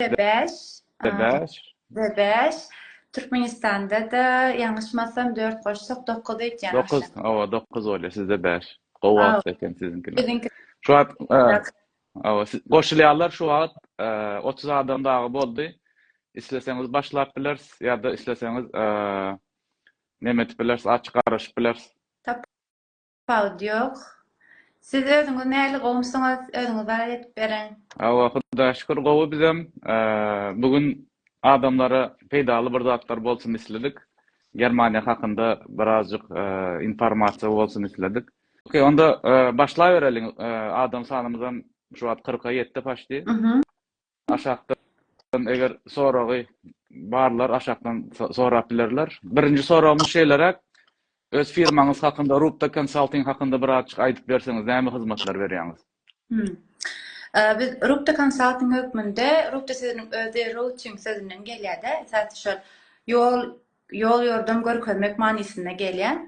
Bebeş. Bebeş. Bebeş. Türkmenistanda-da ýalňyşmasam 4 goşsak 9 edýän. 9, awa 9 bolýar, sizde 5. Gowy wagt eken siziňkiler. Biziňki. Şu wagt, awa, goşulýarlar şu wagt 30 adam dagy boldy. Isleseňiz başlap bileris ýa-da isleseňiz näme edip bileris, açyk garaşyp bileris. Pawut ýok. Siz özüňiz nähili gowumsyňyz özüňiz barat edip beriň. Hawa Hudaýa şükür gowy bizem. Bu gün adamlara peýdaly bir zatlar bolsun isledik. Germaniýa hakynda birazjyk informasiýa bolsun isledik. Ok onda başlabereliň adam sanymyzam şu wagt kyrka ýetdi paşdi. Aşakdan eger soragy barlar aşakdan sorap bilerler. Birinji soragymyz şeýleräk. Öz firmaňyz hakynda Rubda Consulting hakynda bir azjyk aýdyp berseňiz näme hyzmatlar berýäňiz? Biz Rubda Consulting hökmünde Rubda sözüniň özi routing sözünden gelýärde esasy şol ýol ýol-ýordam görkezmek manysyna gelýär.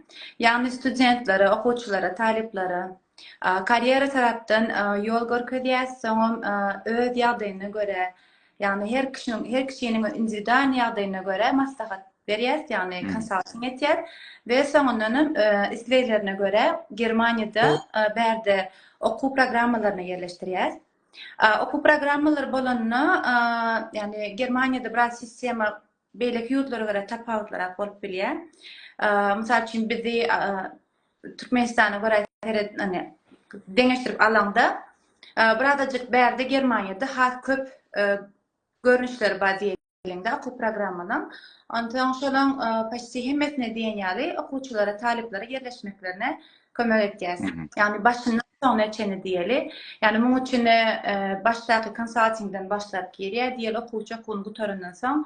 Ýagny studentlere, okuwçylara, talyplara karýera tarapdan ýol görkezýäs, soňam öz ýagdaýyna görä, ýagny her kişiniň, her kişiniň indiwidual ýagdaýyna görä maslahat berýäs, ýagny konsalting etýäs we soňundanam isleglerine görä Germaniýada bärde okuw programmalaryna ýerleşdirýäs. Okuw programmalary bolanda, ýagny Germaniýada biraz sistema Beýleki ýurtlara görä tapawutlyrak bolup bilýär. Mysal üçin bizi Türkmenistana görä seredende deňeşdirip alaňda birazajyk bärde Germaniýada has köp görnüşleri bar diýeliňde okuw programmanyň. Onsoň şolaň poçti hemmesine diýen ýaly okuwçylara, talyplara ýerleşmeklerine kömek etýäs. Ýagny başyndan soňuna çenli diýeli. Ýagny muň üçin başdaky konsaltingden başlap girýär diýeli okuwçy okuwyny gutarandan soň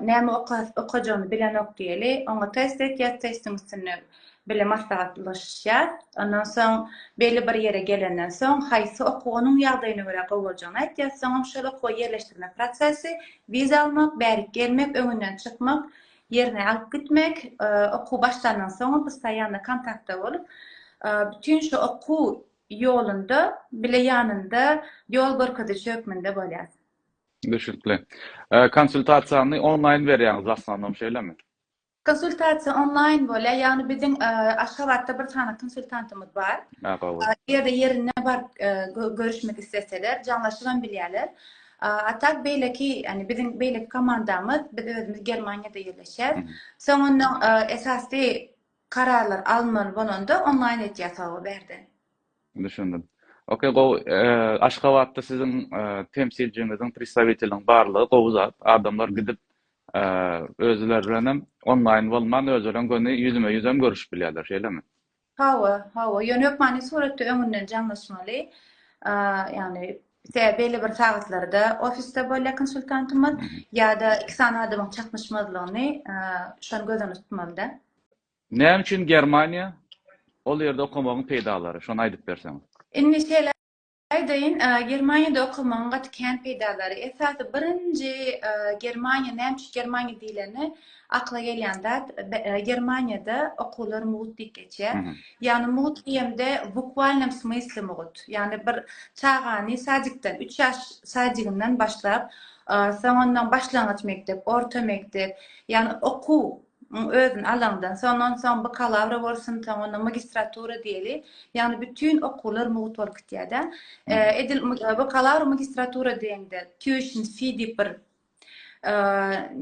näme okajagyny bilenok diýeli. Oňa test etýär, testiň üstünde bile maslahatlaşýar. Ondan soň belli bir ýere gelenden soň haýsy okuw onuň ýagdaýyna görä gowy boljagyny aýtýar. Soňam şol okuwa ýerleşdirmek prosesi, wiza almak, bärik gelmek, öňünden çykmak, ýerine alyp gitmek, okuw başlandan soňam biz saýy ýaly kontaktda bolup, bütin şu okuw ýolunda bile ýanynda ýol görkeziji hökmünde bolýas. Düşnükli. Konsultasiýany onlaýn berýäňiz w asnanom şeýlemi? Konsultasiýa onlaýn bolýar, ýagny biziň Aşgabatda bir sany konsultantymyz bar. Eger-de ýerine baryp görüşmek isleseler, jaňlaşybam bilýärler. A tak beýleki, ýani biziň beýleki komandamyz, biz özümiz Germaniýada ýerleşýäs. Soňundan esasy kararlar alynmaly bolanda onlaýn etýäs hawa bärde. Düşündim. Ok, gowy. Aşgabatda siziň temsilçiňiziň, predstawiteliň barlygy gowy zat. Adamlar gidip özleri bilen hem onlaýn bolman, özleri bilen göni ýüzme-ýüz hem görüşip bilýärler, şeýlemi? Hawa, hawa, ýöne hökmany suratda öňünden jaňlaşmaly. Ýagny tä belli bir sagatlarda ofisde bolýar konsultantymyz ýa-da iki sany adamyň çaknyşmazlygyny şony göz öňünde tutmalyda. Näme üçin Germaniýa? Ol ýerde okamagyň peýdalary, şony aýdyp berseň. Indi şeýle, Aýdaýyn, Germaniýada okamagyň gaty kän peýdalary, esasy birinji Germaniýa, näme üçin Germaniýa diýleni, akla gelýän zat, Germaniýada okuwlar mugt diýip geçýär. Ýagny mugt diýemde, w bukwalynom smysli mugt. Ýagny bir çagany sadikden, üç ýaş sadiginden başlap, soň ondan başlangyç mekdep, orta mekdep, ýagny okuw, Muň özüni alaňdan soň, onsoň bakalawra bolsun, soň onda magistratura diýeli, ýagny bütin okuwlar mugt bolup gitýär-de. Edil bakalawr, magistratura diýeňde tuition fee diýip bir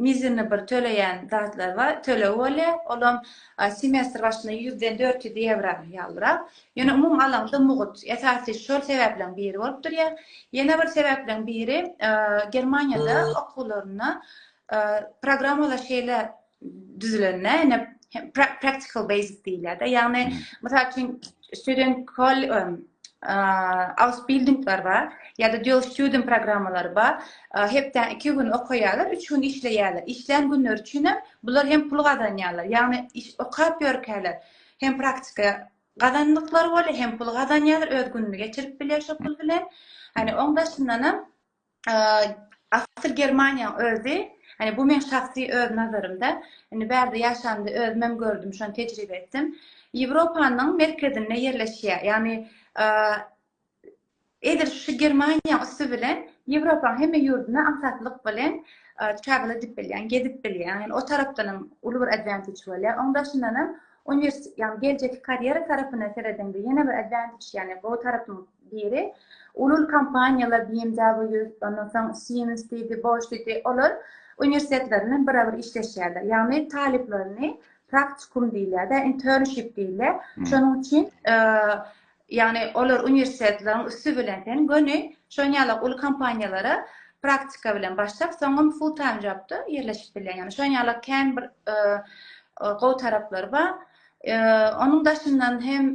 mizerni bir töleýän zatlar bar, tölegi bolýar. Olam semestr başyna ýüzden dört ýüz ýewro ýalyrak. Ýöne umumy alaňda mugt. Esasy şol sebäpleň biri bolup durýar. Ýene bir sebäpleň biri Germaniýada okuwlaryna programmalar şeýle düzülende ine practical basic diýilýär-de. Ýagny, mysal üçin, student kol ausbildingler bar, ýa-da dual student programmalary bar. Hepde iki gün okaýarlar, üç gün işleýärler. Işlän günleri üçin hem bular hem pul gazanýarlar. Ýagny, okap ýörkäler hem praktika gazandyklary bolýar, hem pul gazanýarlar, öz gününi geçirip bilýär şo pul bilen. Hani oň daşyndan hem Asyl Germaniýa özi, hani bu men şahsy öz nazarymda, indi bärde ýaşandy özüm hem gördüm, şony tejribe etdim. Ýewropanyň merkezinde ýerleşýär. Ýagny edil şu Germaniýa üsti bilen Ýewropanyň hemme ýurduna aňsatlyk bilen travel edip bilýän, gezip bilýän. Yani o tarapdan hem uly bir advantage bolýar. Oň daşyndan hem uniwersitet, yani geljeki karýera tarapyna seredende ýene bir advantage, yani bu tarapyň biri uly-uly kompaniýalar BMW, ondan soň Siemens diýdi, Bosch diýdi, olar uniwersitetler bilen bir-bir işleşýärler. Ýagny talyplaryny praktikum diýilýär-de, internship diýilýär. Şonuň üçin ýagny olar uniwersitetleriň üsti bilen sen göni şonuň ýaly uly kompaniýalara praktika bilen başlap, soňam full time jobda ýerleşip bilýär. Ýagny şonuň ýaly kän bir gowy taraplary bar. Onuň daşyndan hem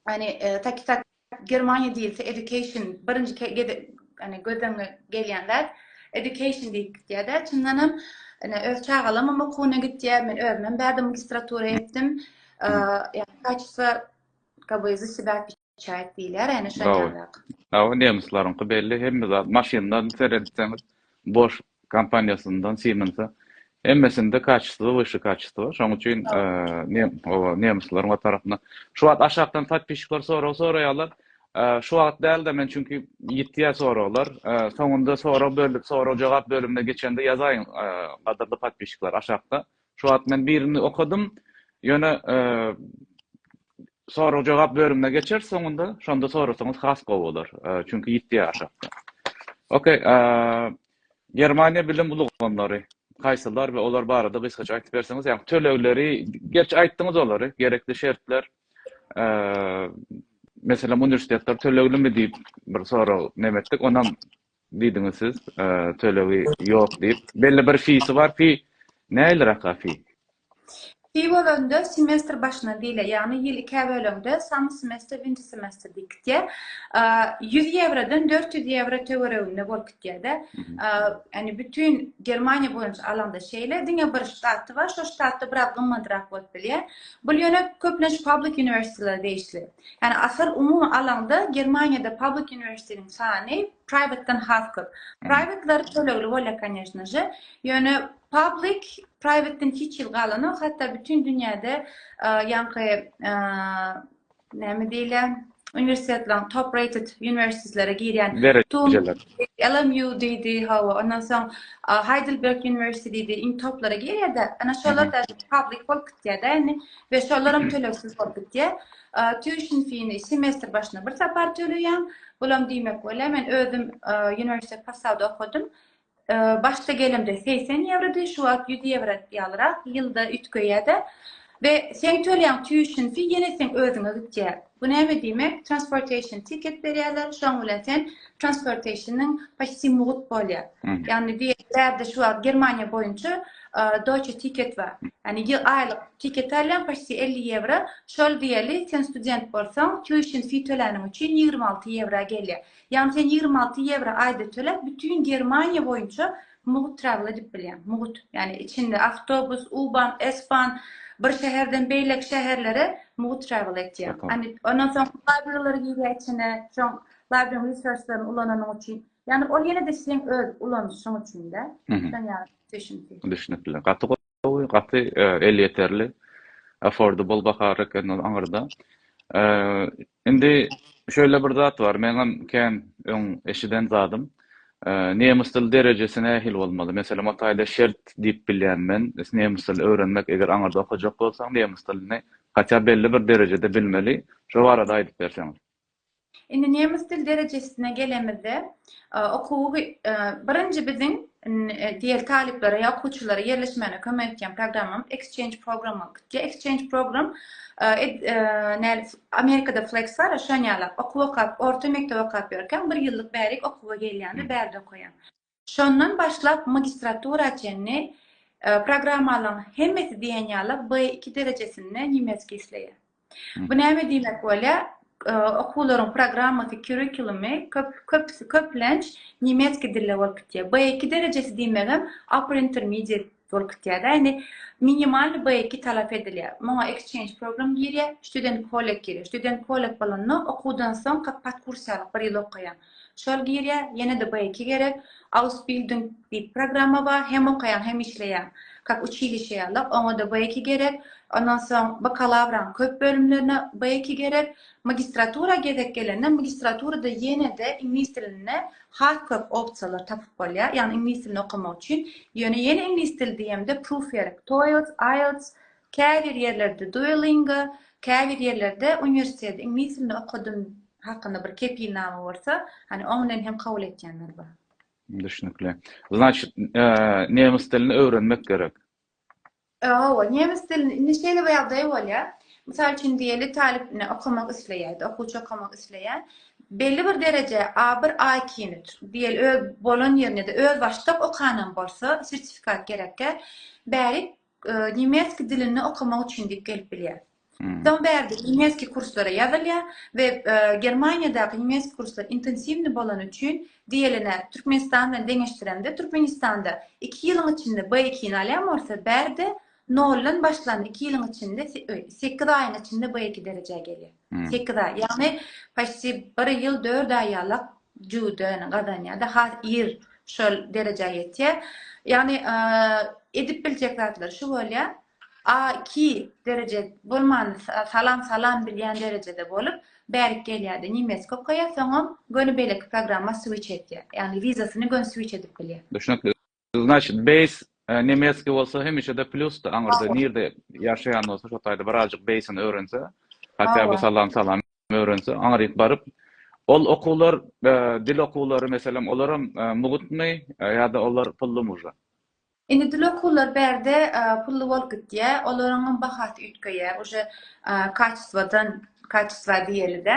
Ýani takikat Germaniýa diýilse education birinji gede ýani gözüňe gelýän zat education diýip gitýär-de. Çyndan hem ýani öz çagalarym hem okuwyna gitýär. Men özüm hem bärde magistratura etdim. Ýani kaçsa kaby zysybap çaýat diýilýär ýani şeýle zat. Hawa, nemislerňki belli hemme zat maşyndan seredipsiňiz boş kompaniýasyndan Siemens-e hemmesinde kaçesto wysşy kaçesto şoň üçin oba nemesleriň o tarapyna şu wagt aşakdan podpisçikler sorag soraýarlar şu wagt dälde men çünki ýitýä soraglar soňunda sorag bölüp sorag jogap bölümine geçende ýazaýyň gadyrly podpisçikler aşakda Şu wagt men birini okadym. Ýöne sorag-jogap bölümine geçeris soňunda. Şonda sorasaňyz has gowy bolar. Çünki ýitdi aşakda. Okey. Germaniýa bilim ulgamlary haýsylar we olar barada gysgaça aýdyp berseňiz, ýa tölegleri, gerçi aýtdyňyz olary, gerekli şertler, eee, meselem, uniwersitetler töleglimi diýip bir sorag näme etdik, onam Diýdiňiz siz tölegi ýok diýip. Belli bir fisi bar fi näiliraka fi? Fi bolanda semestr başyna diýilýär. Ýagny ýyl ikä bölende summer semester, winter semester diýip gitýär. Ýüz ýewrodan dört ýüz ýewro töwereginde bolup gitýär-de. Ýagny bütin Germaniýa boýunça alanda şeýle. Diňe bir ştaty bar. Şo ştatda biraz gymmadrak bolup bilýär. Bul ýöne köplenç public uniwersitetlere degişli. Ýani asyl umumy alaňda Germaniýada public uniwersitetiň sany priwatdan has köp. Priwatlary tölegli bolýar konýeşno že, ýöne public priwatdan hiç hil galanok, hatda bütin dünýäde ýaňky näme diýilýär uniwersitetleriň top rated uniwersitetlere girýän LMU diýdi hawa ondan soň Heidelberg uniwersiteti diýdi iň toplara girýärde ana şolar public bolup gitýärde indi we şolar hem tölegsiz bolup gitýär. Tuition fee-ni semestr başyna bir sapar töleýäň. Bulam diýmek bolýar, men özüm uniwersitet Passauda okadym. Başda gelemde 80 ýewrody, şu wagt 100 ýewro ýalyrak ýylda üýtgeýär-de. We sen töleýäň tuition fee ýene seň özüňe gitýär. Bu näme diýmek transportation ticket berýärler şoň bilen sen transportationyň poçti mugt bolýar. Ýagny diýerdi şu wagt Germaniýa boýunça deutsche ticket bar. Ýagny ýyl aýlyk ticket alýan poçti 50 ýewro şol diýeli sen student bolsaň tuition fee töläniň üçin 26 ýewra gelýär. Ýagny sen 26 ýewro aýda töläp bütin Germaniýa boýunça Mugut travel edip bilýän. Mugut. Ýani içinde awtobus, U-ban, S-ban bir şäherden beýleki şäherlere mugut travel etýär. Ýani ondan soň library girýär içine. Şoň library resurslaryny ulananyň üçin. Ýani ol ýene-de seň öz ulanyşyň üçin-de. Şoň ýaly düşündi. Düşünipli. Gaty Gowy gaty elýeterli affordable bahar eken ol aňyrda. Indi şeýle bir zat bar meňem kän öň eşiden zadym. Nemes dil derejesi nähili bolmaly? Meselem o taýda şert diýip bilýän men nemes dilini öwrenmek eger aňyrda okajak bolsaň nemes dilini hatýa belli bir derejede bilmeli şo barada aýdyp berseňiz. Indi nemes dil derejesine gelemizde, okuwy birinji biziň diýeli talyplara ýa okuwçylara ýerleşmäne kömek edýän programmam Exchange program bolup gitdi. Exchange program näl Amerikada Flex bar, şoň ýaly okuw okap, orta mekdep okap ýörkäm bir ýyllyk bärik okuwa gelýän we bärde okaýan. Şondan başlap magistratura çenli programmalaryň hemmesi diýen ýaly B2 derejesinde nemesgi isleýär. Bu näme diýmek bolýar? Okuwlaryň programmasy, kurrikulumy köp köpüsi köplenç nemesgi dilde bolup gitýär. B2 derejesi diýmegem upper intermediate Şol kriterýa indi minimal B2 talap edilýär. Muňa exchange program girýär, student college girýär. Student college bolanda okuwdan soň podkursiýalyk bir ýyl okaýaň. Şol girýär, ýene-de B2 gerek. Ausbildung diýip programma bar, hem okaýaň, hem işleýäň. Kak uçilişe ýalyk, oňa-da B2 gerek. Ondan soň bakalawraň köp bölümlerine B2 gerek. Magistratura gezek gelende magistraturada ýene-de iňlis dilinde Has köp opsiýalar tapyp bolýar, ýagny iňlis dilini okamak üçin. Ýöne ýene iňlis dili diýemde Proofwerk, TOELTS, IELTS, käbir ýerlerde Duolingo, käbir ýerlerde uniwersiteti iňlis dilinde okadym hakynda bir kepilnama bolsa, hany oň bilen hem kabul etýänler bar. Düşnükli. Znaçyt, nemes dilini öwrenmek gerek. Hawa, nemes dilinde indi şeýle bir ýagdaý bolýar. Mysal üçin diýeli talyp indi okamak isleýärdi, okuwçy okamak isleýär. Belli bir dereje A1, A2-ni diýeli öz bolan ýerinde-de özbaşdak okanam bolsa, sertifikat gerekkä, bärik e, nemes dilinde okamak üçin diýip gelip bilýär. Soň bärde nemesgi kurslara ýazylýar we Germaniýadaky nemesgi kurslar intensiwni bolany üçin diýelene Türkmenistan bilen deňeşdirende Türkmenistanda iki ýylyň içinde B2-ni alýan bolsa bärde noldan başlan iki ýylyň içinde sekiz aýyň içinde B2 derejä gelýär. Sekiz aý. Ýagny paçti bir ýyl dört aý ýalak juden gazanýar da has ir şol derejä ýetýär. Ýagny edip biljek zatlar şu bolýar. A iki dereje bolman salam salam bilýän derejede bolup bärik gelýärdi nimes kokaýa soňam göni beýleki programma switch etýär ýagny wizasyny göni switch edip bilýär. Düşnükli. Znaçit beýs nemetski bolsa hemişede plusdy aňyrda nirde ýaşaýan bolsa şo taýda birazjyk beýsini öwrense hatda bu salam salam öwrense aňryk baryp ol okuwlar dil okuwlary meselem olaram mugutmy ýada olar pully muža. Indi dil okuwlary bärde pully bolup gitýä, olaryňam bahasy üýtgeýä, uje kaçestwodan, kaçestwa diýeli-de.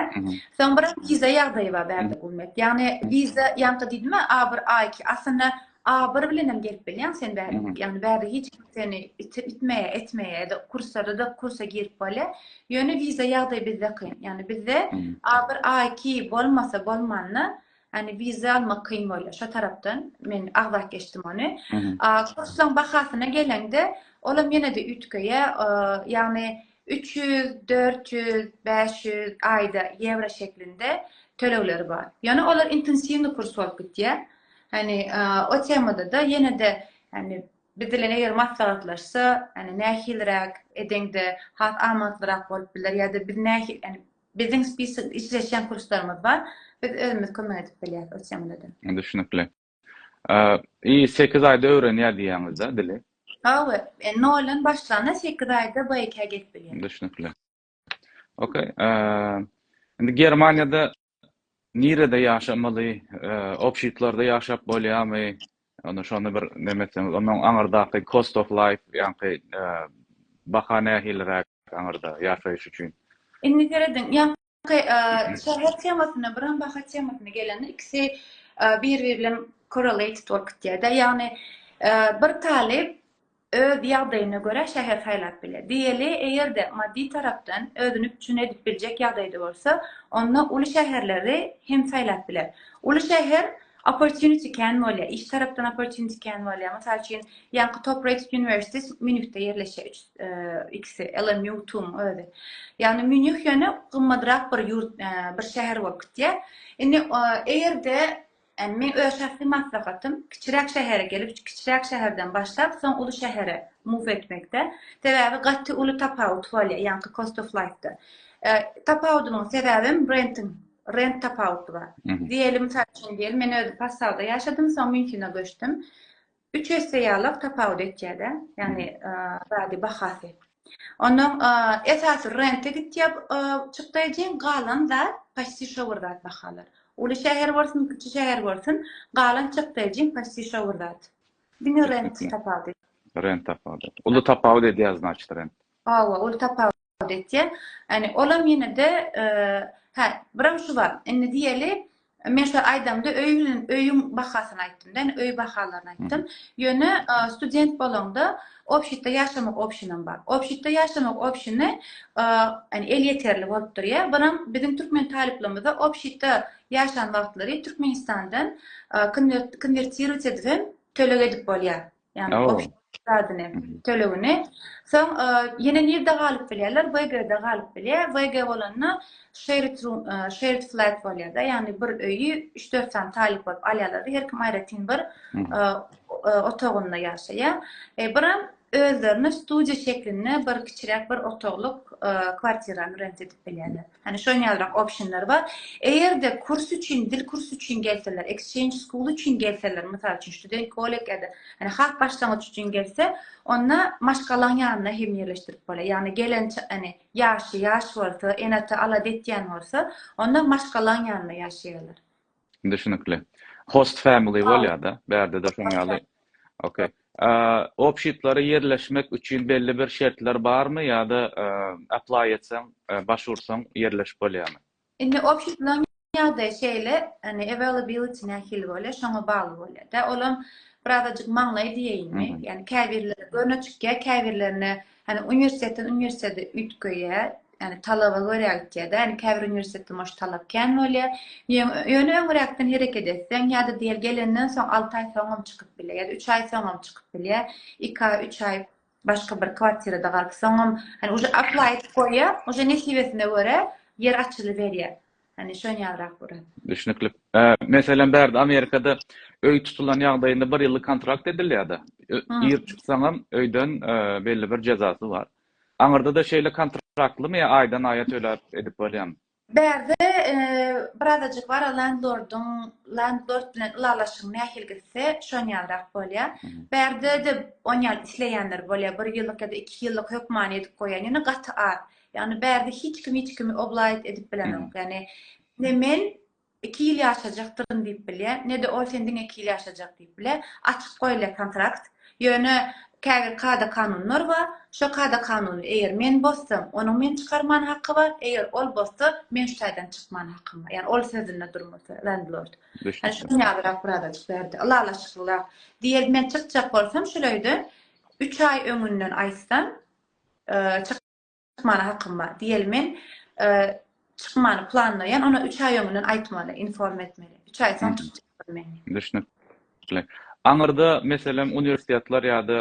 Soň bir wiza ýagdaýy bar bärde Gulmet. Ýagny wiza ýaňky diýdimä A bir, A iki, aslynda A bir bilenem gelip bilýäň sen bärde. Ýagny bärde hiç kim seni itmeýä, etmeýä, ýa-da kurslarda-da kursa girip bolýa. Ýöne wiza ýagdaýy bizde kyn. Ýagny bizde A bir, A iki bolmasa bolmanda, Hani vize almak kyn bolýar. Şu tarapdan men agzap geçdim ony. Kurslaň bahasyna geleňde, olam ýene-de üýtgeýä. Ýagny 300, 400, 500 aýda ýewro şeklinde tölegleri bar. Ýöne olar intensiwny kurs bolup gitýär. Hani o temada-da ýene-de hani biz bilen eger maslahatlaşsa, hani nähiliräk edeňde has amatlyrak bolup biler ýa-da biz nähili, Biziň spisok işleşýän kurslarymyz bar. Biz özümiz kömek edip bilýäs ol çemlede. Düşnükli. I sekiz aýda öwrenýär diýýäňizda dili. Hawa, e, noldan başlanda sekiz aýda BIK-ä gelip bilýär. Düşnükli. Okey. Indi Germaniýada nirede ýaşamaly, obşitlarda ýaşap bolýarmy? Onda şony bir neme etseňiz, ondan aňyrdaky cost of life, ýaňky baha nähiliräk? Aňyrda, ýaşaýyş üçin. Indi serediň, ýaňky şäher temasyna, biram baha temasyna gelende, ikisi bir-biri bilen korrelated bolup gitýär-de. Ýagny, bir talyp öz ýagdaýyna görä şäher saýlap biler. Diýeli, eger-de maddy tarapdan özüni üpjün edip biljek ýagdaýda bolsa, onda uly şäherleri hem saýlap biler. Uly şäher opportunity kän bolýar, iş tarapdan opportunity kän bolýar. Mysal üçin, ýaňky top-rated uniwersitet Mýunhde ýerleşýär, Ikisi Ellen Newtum özi. Yani Münih ýöne gymmadrak bir ýurt, bir şäher bolup gitýär. Indi eger-de men öz şahsy maslahatym kiçiräk şähere gelip, kiçiräk şäherden başlap, soň uly şähere move etmekde. Sebäbi gaty uly tapawut bolýar, ýaňky cost of life-da. Tapawudynyň sebäbem renting, rent tapawudy bar. Diýeli, mysal üçin diýeli, men özi Passauda ýaşadym, soň Münhene göçdüm. Üç esse ýalak tapawut etýädä, ýagny zady bahasy. Ondan esasy rente gitýä çykdaý jeň galan zat paçti şo bir zat bahalar. Uly şäher bolsun, kiçi şäher bolsun, galan çykdaý jeň paçti şo bir zat. Diňe rent tapawut. Rent tapawut. Uly tapawut edýä znaçt rent. Hawa, uly tapawut. ýaly etýär. Ýani olam ýene-de hä, biram şu bar. Indi diýeli, men şo aýdamda öý bilen öýüň bahasyny aýtdym-da, ýani öý bahalaryny aýtdym. Ýöne student bolaňda obşitde ýaşamak obşinam bar. Obşitde ýaşamak obşini ýani elýeterli bolup durýa. Biram biziň türkmen talyplarymyzda obşitde ýaşan wagtlary Türkmenistandan konwertirować edibem töleg edip bolýar. Yani o zadini, tölegini. Soň yine nirde galyp bilýärler? VG-de galyp bilýär. VG bolanda shared room, shared flat bolýar-da. Yani bir öýi 3-4 sany talyp bolup alýarlar-da. Her kim aýratyn bir otagynda ýaşaýar. Biram özlerine studiýa şeklinde bir kiçiräk bir otaglyk kwartirany rent edip bilýärler. Hani şoň ýalyrak optionlar bar. Eger-de kurs üçin, dil kursy üçin gelseler, exchange school üçin gelseler, mysal üçin, student college ýa-da hani has başlangyç üçin gelse, onda maşgalaň ýanyna hem ýerleşdirip bolýar. Ýagny gelen hani ýaşy ýaş bolsa, ene-ata alada etýän bolsa, onda maşgalaň ýanynda ýaşaýarlar. Düşnükli. Host family bolýar-da, bärde-de şoň ýaly. Okey. Opşitlara ýerleşmek üçin belli bir şertler barmy ýa-da apply etseň, baş ursaň ýerleşip bolýarmy? Indi opşitlaryň ýagdaýy şeýle, indi availability nähili bolýar, şoňa bagly bolýar-da. Olam birazajyk maňlaý diýeýinmi, ýagny käbirleri göni çykýar, käbirlerine Hani uniwersitetden uniwersitete üýtgeýär, yani talaba görä gitýär-de, yani käbir uniwersitetde moş talap kän bolýar. Ýöne öňräkden hereket etseň ýa-da diýeli gelenden soň alty aý soňam çykyp bilýär, ýa-da üç aý soňam çykyp bilýär. Iki aý, üç aý başga bir kwartirada galyp soňam, hani uje aplaý edip goýýar, uje nesibesine görä ýer açylyberýär. Hani şony ýazrak görün. Düşnükli. Meselem bärde Amerikada öý tutulan ýagdaýynda bir ýyllyk kontrakt edilýärde. Ir çyksaňam öýden belli bir jezasy bar. Aňyrdada şeýle kontraktlymy ýa aýdan aýa töläp edip bolýamy? Bärde birazajyk bar landlordyň landlord bilen ylalaşygyň nähili gitse şony ýazrak bolýar. Bärdede onýal isleýänler bolýar bir ýyllyk ýa-da iki ýyllyk hökmany edip goýýan ýöne gaty az. Ýagny bärde hiç kim hiç kimi oblaýyt edip bilenok. Ýagny ne men iki ýyl ýaşajakdyryn diýip bilýä, ne-de ol sen diňe iki ýyl ýaşajak diýip bilýä. Açyk goýulýa kontrakt. Ýöne käbir kada-kanunlar bar. Şo kada-kanuny eger men bozsam, onuň meni çykarman haky bar, eger ol bozsa, men şu taýdan çykman hakym bar. Ýagny ol sözünde durmasa, landlord. Ýagny şunuň ýalyrak birazajyk bärde, ylalaşyklyrak. Diýeli men çykjak bolsam şuleýde, üç aý öňünden aýtsam, çyk. Çykmana hakym bar. Diýeli men çykmany planlaýan, ona 3 aý öňünden aýtmaly, inform etmeli. 3 aý soň çykjakdyr men. Düşnükli. Aňyrda meselem uniwersitetler ýa-da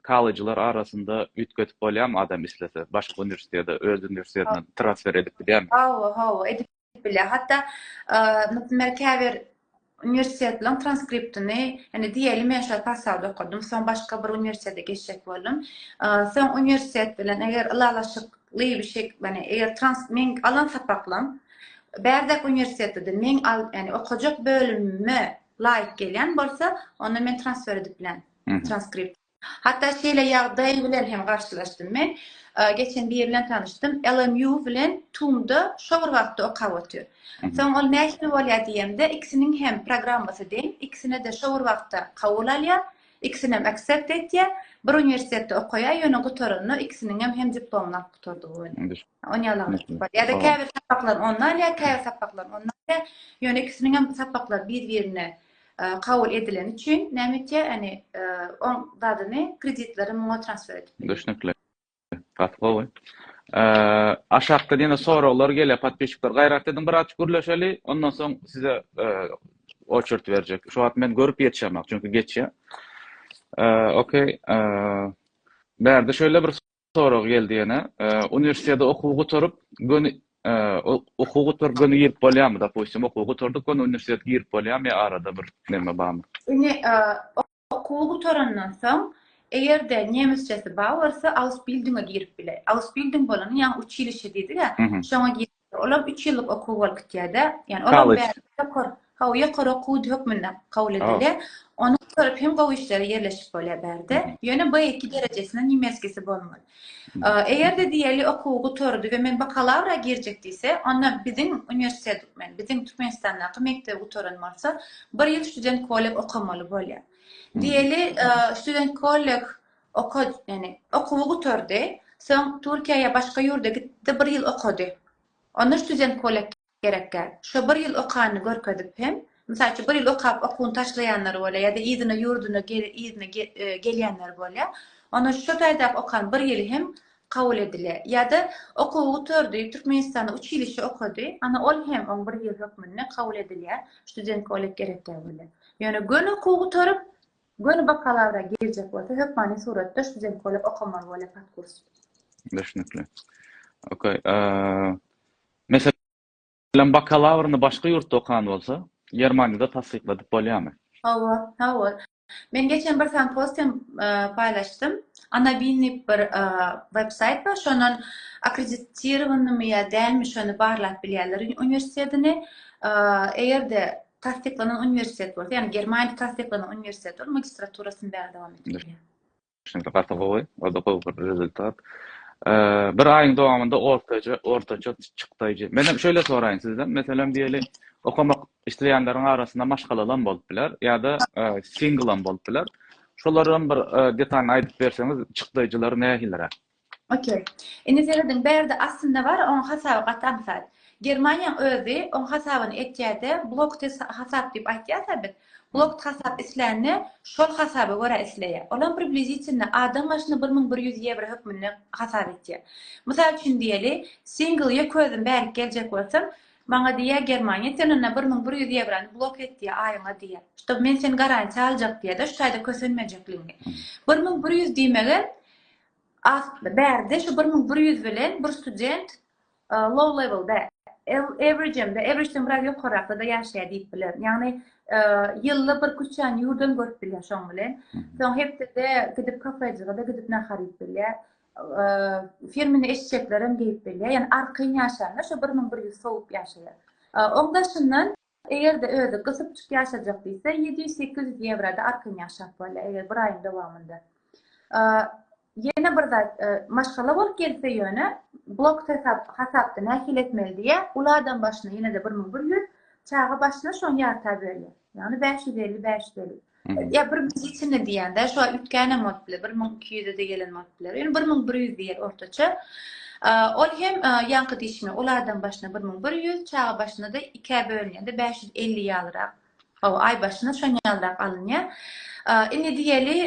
kollejler arasynda üýtgedip bolýarmy adam islese? Başga uniwersitete, öz uniwersitetine transfer edip bilýärmi? Hawa, hawa, edip bilýär. Hatda, naprimýer, käbir uniwersitetleriň transkriptini, ýani diýeli men şol portalda okadym, soň başga bir uniwersitete geçjek boldum. Soň uniwersitet bilen eger ylalaşykly bir şek, ýani eger trans, meň alan sapaklarym bärde uniwersitede meň al, ýani okajak bölümime laýyk gelýän bolsa, onda men transfer edip bilýän transkripti. Hatda şeýle ýagdaý bilen hem garşylaşdym men. Geçen biri bilen tanyşdym. LMU bilen TUM-da şo bir wagtda okap otyr. Soň ol nähili bolýar diýemde, ikisiniň hem programmasy deň, ikisine-de şo bir wagtda kabul alýar, ikisinem accept etýär. Bir uniwersitetde okaýar, ýöne gutaranda ikisiniňem hem diplomyny alyp gutardygy bolýar. On ýalam etdik bolýar. Ýa-da käbir sapaklary onda alýar, käbir sapaklary onda alýar. Ýöne ikisiniňem sapaklary bir-birine kabul edileni üçin näme etýär yani oň zadyny kreditleri muňa transfer edip bilýär. Düşnükli. Gaty gowy. Aşakda ýene soraglar gelýär podpisçikler gaýrat ediň biraz gürleşeli ondan soň size oçert berjek. Şu wagt men görüp ýetişemok çünki geçýär. Okey. Bärde şöyle bir sorag geldi ýene. Uniwersiteti okuw gutaryp, göni okuw gutaryp göni girip bolýarmy? Dopustim, okuw gutardyk, göni uniwersiteti girip bolýarmy ýa arada bir näme barmy? Ine, okuw gutarandan soň, eger-de nemesçesi bar bolsa, ausbildinge girip biler. Ausbilding bolany, ýagny uçilişe diýdik-ä, şoňa girip Olam üç ýyllyk okuw bolup gitýär-de. Ýani olam ýokary, hawa, ýokary okuw hökmünde kabul edilýär. Ony gutaryp hem gowy işlere ýerleşip bolýar bärde. Ýöne B2 derejesinde niemeskisi bolmaly. Eger-de diýeli okuwy gutardy we men bakalawra girjek diýse, onda biziň uniwersitet, men biziň Türkmenistandaky mekdebi gutaran bolsa, bir ýyl student-kolleg okamaly bolýar. Diýeli student-kolleg Oka, ýani okuwy gutardy. Soň Türkiýä ýa başga ýurda gitdi, bir ýyl okady. Onda student polak gerekkä. Şo bir ýyl okanyny görkezip hem, mysal üçin bir ýyl okap okuwyny taşlaýanlar bolýar ýa-da yzyna ýurduna gel, yzyna gel, gelýänler bolýar. Onda şo taýdaky okan bir ýyly hem kabul edilýär. Ýa-da okuwy gutardy, Türkmenistanda uçilişe okady, ana ol hem oň bir ýyl hökmünde kabul edilýär, student polak gerekkä bolýar. Ýöne göni okuwy gutaryp, Göni bakalawra girjek bolsa hökmany suratda student bolup okamaly bolýar podkurs. Düşnükli. Ok. Meselem bakalawryny başga ýurtda okan bolsa, Germaniýada tassykladyp bolýarmy? Hawa, hawa. Men geçen bir sany post hem paýlaşdym. Anabinni bir websaýt bar, şondan akkreditirowanmy ýa dälmi şony barlap bilýärler uniwersitetini. Eger-de tassyklanan uniwersitet bolsa, ýagny Germaniýada tassyklanan uniwersitet bolup, magistraturasyny bäri dowam etmeli. Düşünikli, gaty gowy. O-da gowy bir rezultat. Bir aýyň dowamynda ortaça, ortaça çykdaýjy. Menem şeýle soraýyn sizden, meselem diýeli, okamak isleýänleriň arasynda maşgalalam bolup biler ýa-da singlam bolup biler. Şolaram bir detalyny aýdyp berseňiz, çykdaýjylary nähiliräk? Okey. Indi serediň, bärde aslynda bar, oň hasaby gaty aňsat. Germaniýaň özi oň hasabyny etýärde, blokty hasap diýip aýtýarsa biz, blokt hasap islänini şol hasaba görä isleýär. Olam približitelno adam başyna bir müň bir ýüz ýewro hökmünde hasap etýär. Mysal üçin diýeli, single ýeke özüm bärik geljek bolsam, maňa diýýär Germaniýa, sen onda bir müň bir ýüz ýewrony blok et diýýär aýyňa diýýär. Ştob men seni garantiýa aljak diýýärde, şu taýda kösenmejekligiňi. Bir müň bir ýüz diýmegem Bärde şu bir müň bir ýüz bilen bir student low level-de, average-de, average-den biraz ýokarrakda-da ýaşaýar diýip bilerin. Ýagny ýylda bir küçän ýurdam görüp bilýär şoň bilen. Soň hepdede gidip kafejige-de gidip nahar iýip bilýär. Firmini eşeklerem geýip bilýär. Ýagny arkaýyn ýaşaýanda şu bir müň bir ýüz sowup ýaşaýar. Oň daşyndan Eger-de özi gysypjyk ýaşajak diýse, ýedi ýüz, sekiz ýüz ýewroda arkan ýaşap bolýar, eger bir aýyň dowamynda. Ýene bir zat, maşgala bolup gelse ýöne, blok hesap, hasapda nähili etmeli diýýär, uly adam başyna ýene-de bir müň bir ýüz, çaga başyna şony ýarta bölýär. Ýagny bäş ýüz elli, bäş ýüz elli. Ýa bir müň içinde diýýän-dä, şu aý üýtgänem bolup biler, bir müň iki ýüze-de gelen bolup biler. Ýöne bir müň bir ýüz diýer ortaça. Ol hem ýaňky diýşime, ol adam başyna bir müň bir ýüz, çaga başyna-da ikä bölünýär-de, bäş ýüz elli ýalyrak, hawa, aý başyna şonýalyrak alynýar. Indi diýeli,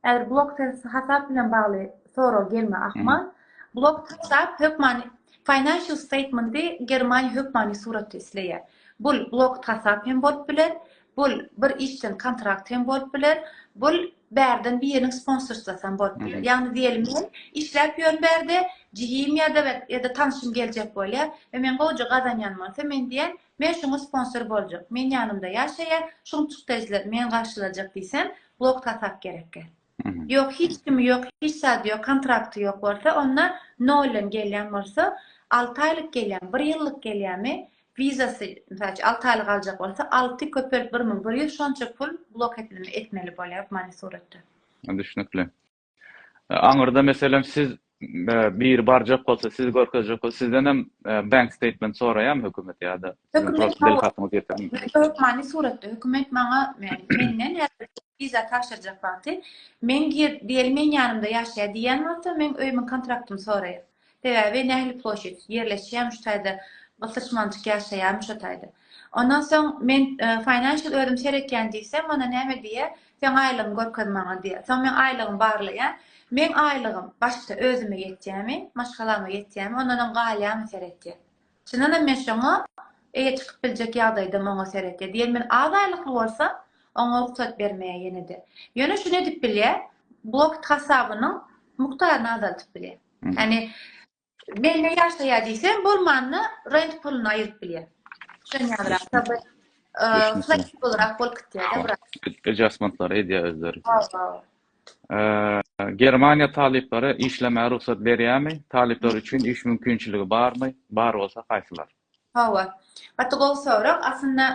Häzir blok hasap bilen bagly sorag gelme ahmal. Blok hasap hökmany financial statementy Germaniýa hökmany suratda isleýär. Bul blok hasap hem bolup biler, bul bir işçiň kontrakt hem bolup biler, bul bärden biriniň sponsorstvasy hem bolup biler. Ýagny diýelim men işläp ýörün bärde jigim ýa-da ýa-da tanşym geljek bolýar we men gowja gazanýan bolsa men diýen Men şuňa sponsor boljak, men ýanymda ýaşaýa, şuň çykdajylar meni garşylajak diýsem, blok tasap gerekge. Ýok, hiç kimi ýok, hiç zady ýok, kontrakty ýok bolsa, onda noldan gelýän bolsa, alty aýlyk gelýämi, bir ýyllyk gelýämi, wizasy, mysal üçin, alty aýlyk aljak bolsa, alty köpelt bir müň bir ýüz şonça pul blok etmeli bolýar, many suratda. Düşnükli. Aňyrda meselem siz biri barjak bolsa, sizi görkezjek bolsa, sizden hem bank statement soraýarmy hökümet ýa-da Hökmany suratda hökümet maňa menden wiza tabşyrjak wagty men diýeli men ýanymda ýaşaýar diýen bolsa, men öýümiň kontraktymyny soraýar. Sebäbi nähili ploşit, ýerleşýämiş taýda gysyş mantyk ýaşaýamyş o taýda. Ondan soň men financial özüm seretýän diýsem onda näme diýýä seň aýlygyňy görkez maňa diýýä. Soň men aýlygymy barlaýan. Meň aýlygym başda özüme ýetýämi, maşgalama ýetýämi ondanam galýamy seretýän. Çyndanam men şoňa eýe çykyp biljek ýagdaýdam oňa seretýär. Diýen men az aýlykly bolsam, oňa rugsat bermeýär ýene-de. Ýöne şuny edip bilýär, blokt hasabynyň mukdaryny azaldyp bilýär. Ýagny mende ýaşaýar diýse, bolmanda rent puluny aýyryp bilýär. Şony ýazrak taby fleksiblerak bolup gitýär-de biraz. Adjastmentlary edýär özleri. Hawa. Germaniýa talyplara işlemäge rugsat berýärmi? Talyplar üçin iş mümkinçiligi barmy? Bar bolsa haýsylar? Hawa. Gaty gowy sorag. Aslynda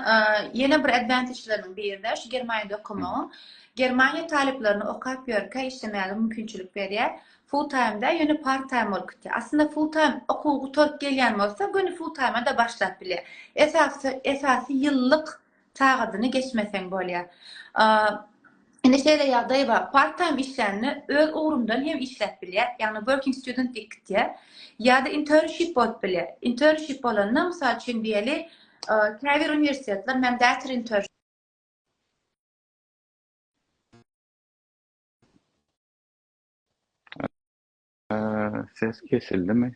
ýene bir advantageleriniň biri-de şu Germaniýada okamagyň. Germaniýa talyplaryna okap ýörkä işlemäge mümkinçilik berýär. Full time-da, ýöne part time bolup gitýär. Aslynda full time okuw gutaryp gelýän bolsa, göni full time-a-da başlap bilýär. Esasy, esasy ýyllyk sagadyny geçmeseň bolýar. Indi şeýle ýagdaý bar, part time işlände öz ugrumdan hem işläp bilýär, ýagny working student diýip gitýär. Ýa-da internship bolup bilýär. Internship bolanda, mysal üçin diýeli, käbir uniwersitetler mandatory internship Ses kesildimi?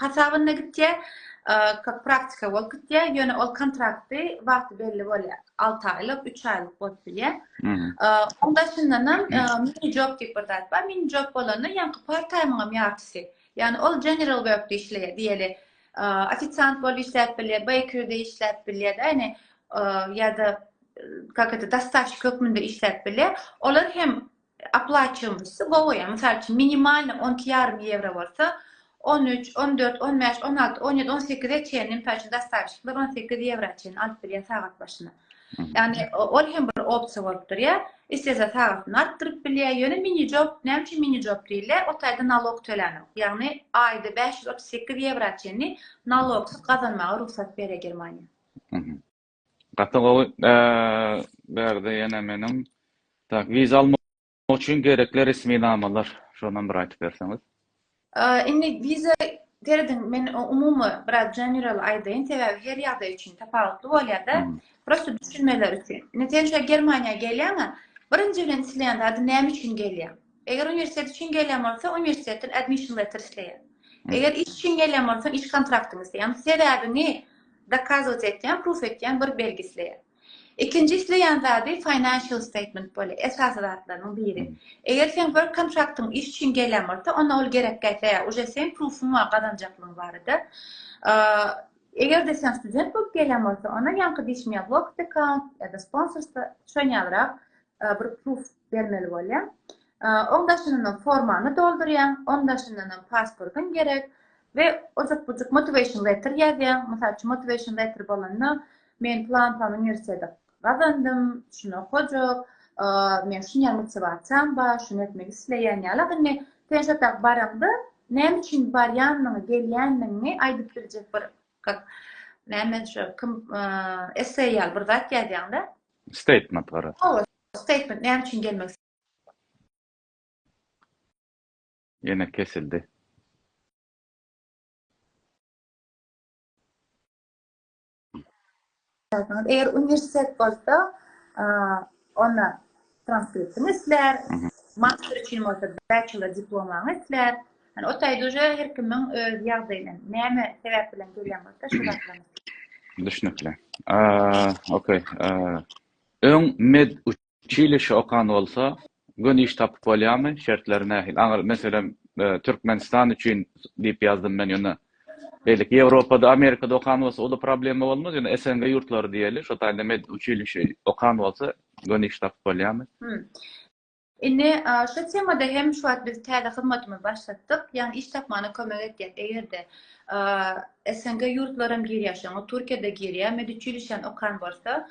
hasabynda gitýär, kak praktika bolup gitýär, ýöne ol kontrakty wagty belli bolýar, alty aýlyk, üç aýlyk bolup bilýär. Oň daşyndanam mini job diýip bir zat bar, mini job bolanda ýaňky part taýmyňam ýartysy, ýagny ol general workde işleýär diýeli, ofisiant bolup işläp bilýär, beýkeride işläp bilýär-de, ýagny ýa-da kak eto, dastaşyk hökmünde işläp bilýär, olar hem Oplaçiomosty gowy, ýa mysal üçin minimalnyý on iki ýarym ýewro bolsa, on üç, on dört, on bäş, on alty, on ýedi, on sekize çenli mysal üçin dastawişikler on sekiz ýewra çenli alyp bilýär sagat başyna. Ýagny ol hem bir opsiýa bolup durýar. Islese sagatyny artdyryp bilýär. Ýöne minijob, näme üçin minijob diýilýär? O taýda nalog tölänok. Ýagny aýda bäş ýüz otuz sekiz ýewra çenli nalogsyz gazanmaga rugsat berýär Germaniýa. Gaty gowy Berdi ýene meniň tak wiza almak üçin gerekli resmi namalar şonam bir aýtyp berseňiz. Indi wiza serediň men umumy biraz general aýdaýyn sebäbi her ýagdaý üçin tapawutly bolýada prosta düşünmeler üçin. Indi sen şu Germaniýa gelýäňä birinji bilen isleýän zady näme üçin gelýäň? Eger uniwersitet üçin gelýän bolsa, uniwersitetden admission letter isleýär. Eger iş üçin gelýän bolsa, iş kontraktyny isleýär. Ýagny sebäbiňi dokazować etýän, proof etýän bir belgi isleýär. Ikinji isleýän zady financial statement bolýar, esasy zatlarynyň biri. Eger seň work kontraktyň iş üçin gelýän bolsa, onda ol gerek däl, uje seň proofuň bar gazanjaklygyň barada. Eger-de sen student bolup gelýän bolsa, onda ýaňky diýşim ýaly work account ýa-da sponsorstwo şoň ýalyrak bir proof bermeli bolýaň. Oň daşyndan formany doldurýaň, oň daşyndan hem pasportyň gerek we ojak bujuk motivation letter ýazýaň. Mysal üçin motivation letter bolanda men plan plan uniwersiteti gazandym, şuny okajak, men şuny motivasiýam bar, şuny etmek isleýän ýaly. Indi sen şo bar baranda näme üçin barýanyňy, gelýäniňi aýdyp biljek bir Kak, näme şu kim esseý ýaly bir zat ýazýaňda? Statement gara. Hawa, statement näme üçin gelmek Ýene kesildi. Eger uniwersitet bolsa, onda transkriptiň islär, master üçin bolsa bachelor diplomaň islär. Yani o taýda uje her kimiň öz ýagdaýyna näme sebäp bilen gelýän bolsa şol zatlaryny. Düşnükli. Okey. Öň med Çili şu okan bolsa göni iş tapyp bolýamy şertleri nähili aňyr meselem Türkmenistan üçin diýip ýazdym men ýöne beýleki Ýewropada Amerikada okan bolsa oda problema bolmaz ýöne SNG ýurtlary diýeli şo taýynda med uçilişi okan bolsa göni iş tapyp bolýamy. Indi şu temada hem şu wagt biz täze hyzmatymyzy başlatdyk ýagny iş tapmana kömek etýär egerde SNG ýurtlary hem girýär şoňa Türkiýada girýär med uçilişen okan bolsa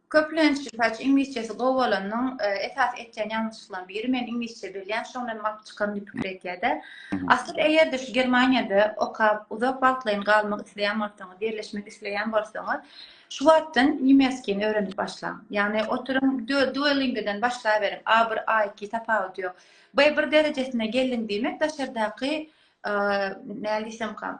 Köplenç, mysal üçin, iňlisçesi gowy bolanyň esasy etýän ýalňyşlyklarynyň biri, men iňlisçe bilýän, şoňa men baryp çykaryn diýip pikir edýär-de. Asyl, eger-de şu Germaniýada okap, uzak wagtlaýyn galmak isleýän bolsaňyz, ýerleşmek isleýän bolsaňyz, şu wagtdan nemesgini öwrenip başlaň. Ýagny, oturyň, Duolingo-dan başlaberiň, A bir, A iki, tapawudy ýok. B bir derejesine geldiň diýmek, daşardaky, nädip diýsemka,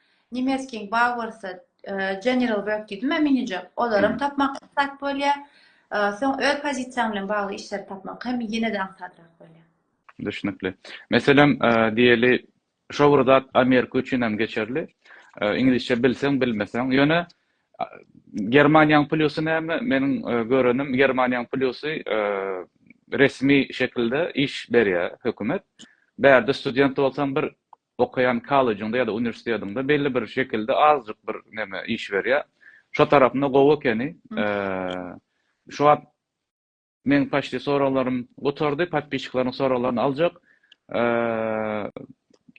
Nemes King Bauersa General Work diýdimä minijek. Olaram tapmak aňsat bolýar. Soň öz pozisiýaň bilen bagly işleri tapmak hem ýene-de aňsadrak bolýar. Düşnükli. Meselem, diýeli, şo bir zat Amerika üçin hem geçerli. Iňlisçe bilseň, bilmeseň. Ýöne Germaniýaň plýusy näme? Meniň görenim, Germaniýaň plýusy resmi şekilde iş berýär hökümet. Bärde student bolsaň bir okaýan kollejinde ýa-da uniwersitetiňde belli bir şekilde azjyk bir neme iş berýär. Şo tarapynda gowy ekeni. Şu wagt meň paçti soraglarym gutardy. Podpisçikleriň soraglaryny aljak.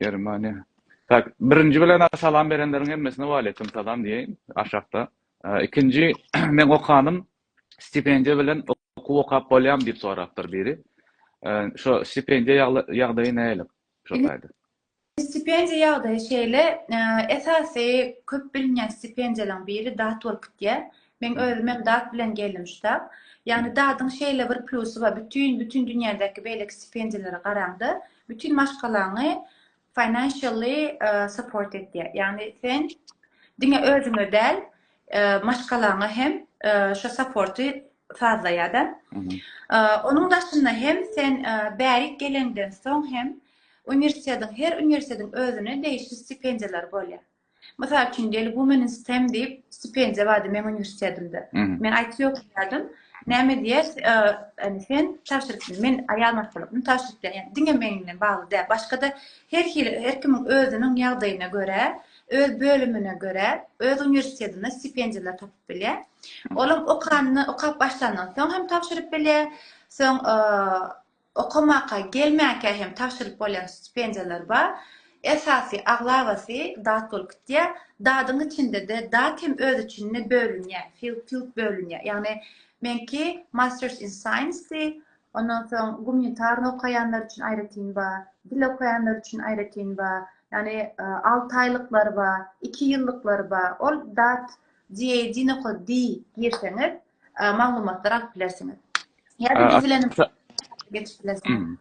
Germaniýa. Tak, birinji bilen salam berenleriň hemmesine waleýkim salam diýeýin aşakda. Ikinji meň okanym stipendiýa bilen okuw okap bolýarmy diýip sorapdyr biri. Şo stipendiýa ýagdaýy nälik? şu taýda. Stipendiýa ýagdaýy şeýle, esasy köp bilinýän stipendiýalaryň biri dat bolup gitýär. Meň özüm hem dat bilen geldim şu tab. Ýagny dadyň şeýle bir plusy bar, bütin bütin dünýädäki beýleki stipendiýalara garaňda, bütin maşgalaňy financially support edýär. Ýagny sen diňe özüňe däl, maşgalaňa hem şo supporty sazla ýa-da. Onuň daşynda hem sen bärik gelenden soň hem uniwersitetiň, her uniwersitetiň özüne degişli stipendiýalary bolýar. Mysal üçin, Deli Women in STEM diýip stipendiýa bardy meň uniwersitetimde. Men IT okaýardym. Näme diýer, ýani sen tabşyryp, men aýal maşgalasynda tabşyryp berýän. Diňe meň bilen bagly däl. Başga-da her hili, her kimiň özüniň ýagdaýyna görä, öz bölümine görä, öz uniwersitetinde stipendiýalar tapyp bilýär. Olam okanyny, okap başlandan soň hem tabşyryp bilýär. Soň okamaka gelmänkä hem tabşyryp bolýan stipendiýalar bar. Esasy aglabasy dat bolup gitýär. Dadyň içinde-de dat hem öz içinde bölünýär, field field bölünýär. Ýagny meňki Masters in Science-di. Ondan soň gumanitarny okaýanlar üçin aýratyn bar, dil okaýanlar üçin aýratyn bar. Ýagny 6 aýlyklary bar, 2 ýyllyklar bar. Ol dat Dino D girseňiz maglumatlar alyp bilersiňiz. Ýa-da biz bilen geçip bilersiňiz.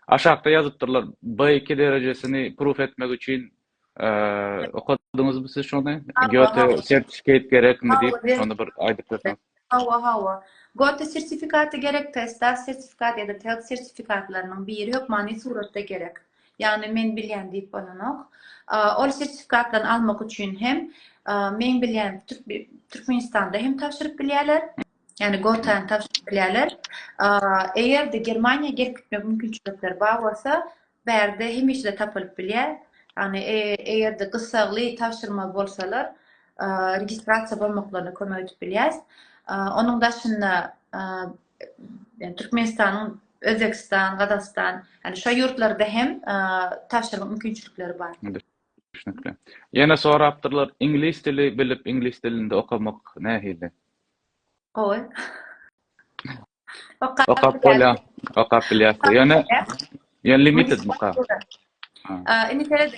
Aşakda ýazypdyrlar B2 derejesini proof etmek üçin okadyňyzmy siz şony? Göte sertifikat gerekmi diýip, şony bir aýdyp berseňiz. Hawa, hawa. Göte sertifikaty gerek, TESDAS sertifikat ýa-da TELT sertifikatlarynyň biri hökmany suratda gerek. Ýagny men bilýän diýip bolanok. Ol sertifikatlaryny almak üçin hem men bilýän Türkmenistanda hem tabşyryp bilýärler. Ýagny Gotany tabşyryp bilýärler. Eger-de Germaniýa gelip gitmek mümkinçilikleri bar bolsa, bärde hemişe tapylyp bilýär. Ýagny e, eger-de gyssagly tabşyrma bolsalar, registrasiýa bolmaklaryna kömek edip bilýäs. Onuň daşynda Türkmenistanyň, Özbegistan, Gazagystan, ýani şo ýurtlarda hem tabşyrmak mümkinçilikleri bar. Düşnükli. Ýene sorapdyrlar, iňlis dili bilip, iňlis dilinde okamak nähili? Gowy. Okap bolýar. Okap bilýärsiň. Ýöne Ýa limited bu ka? Indi seret,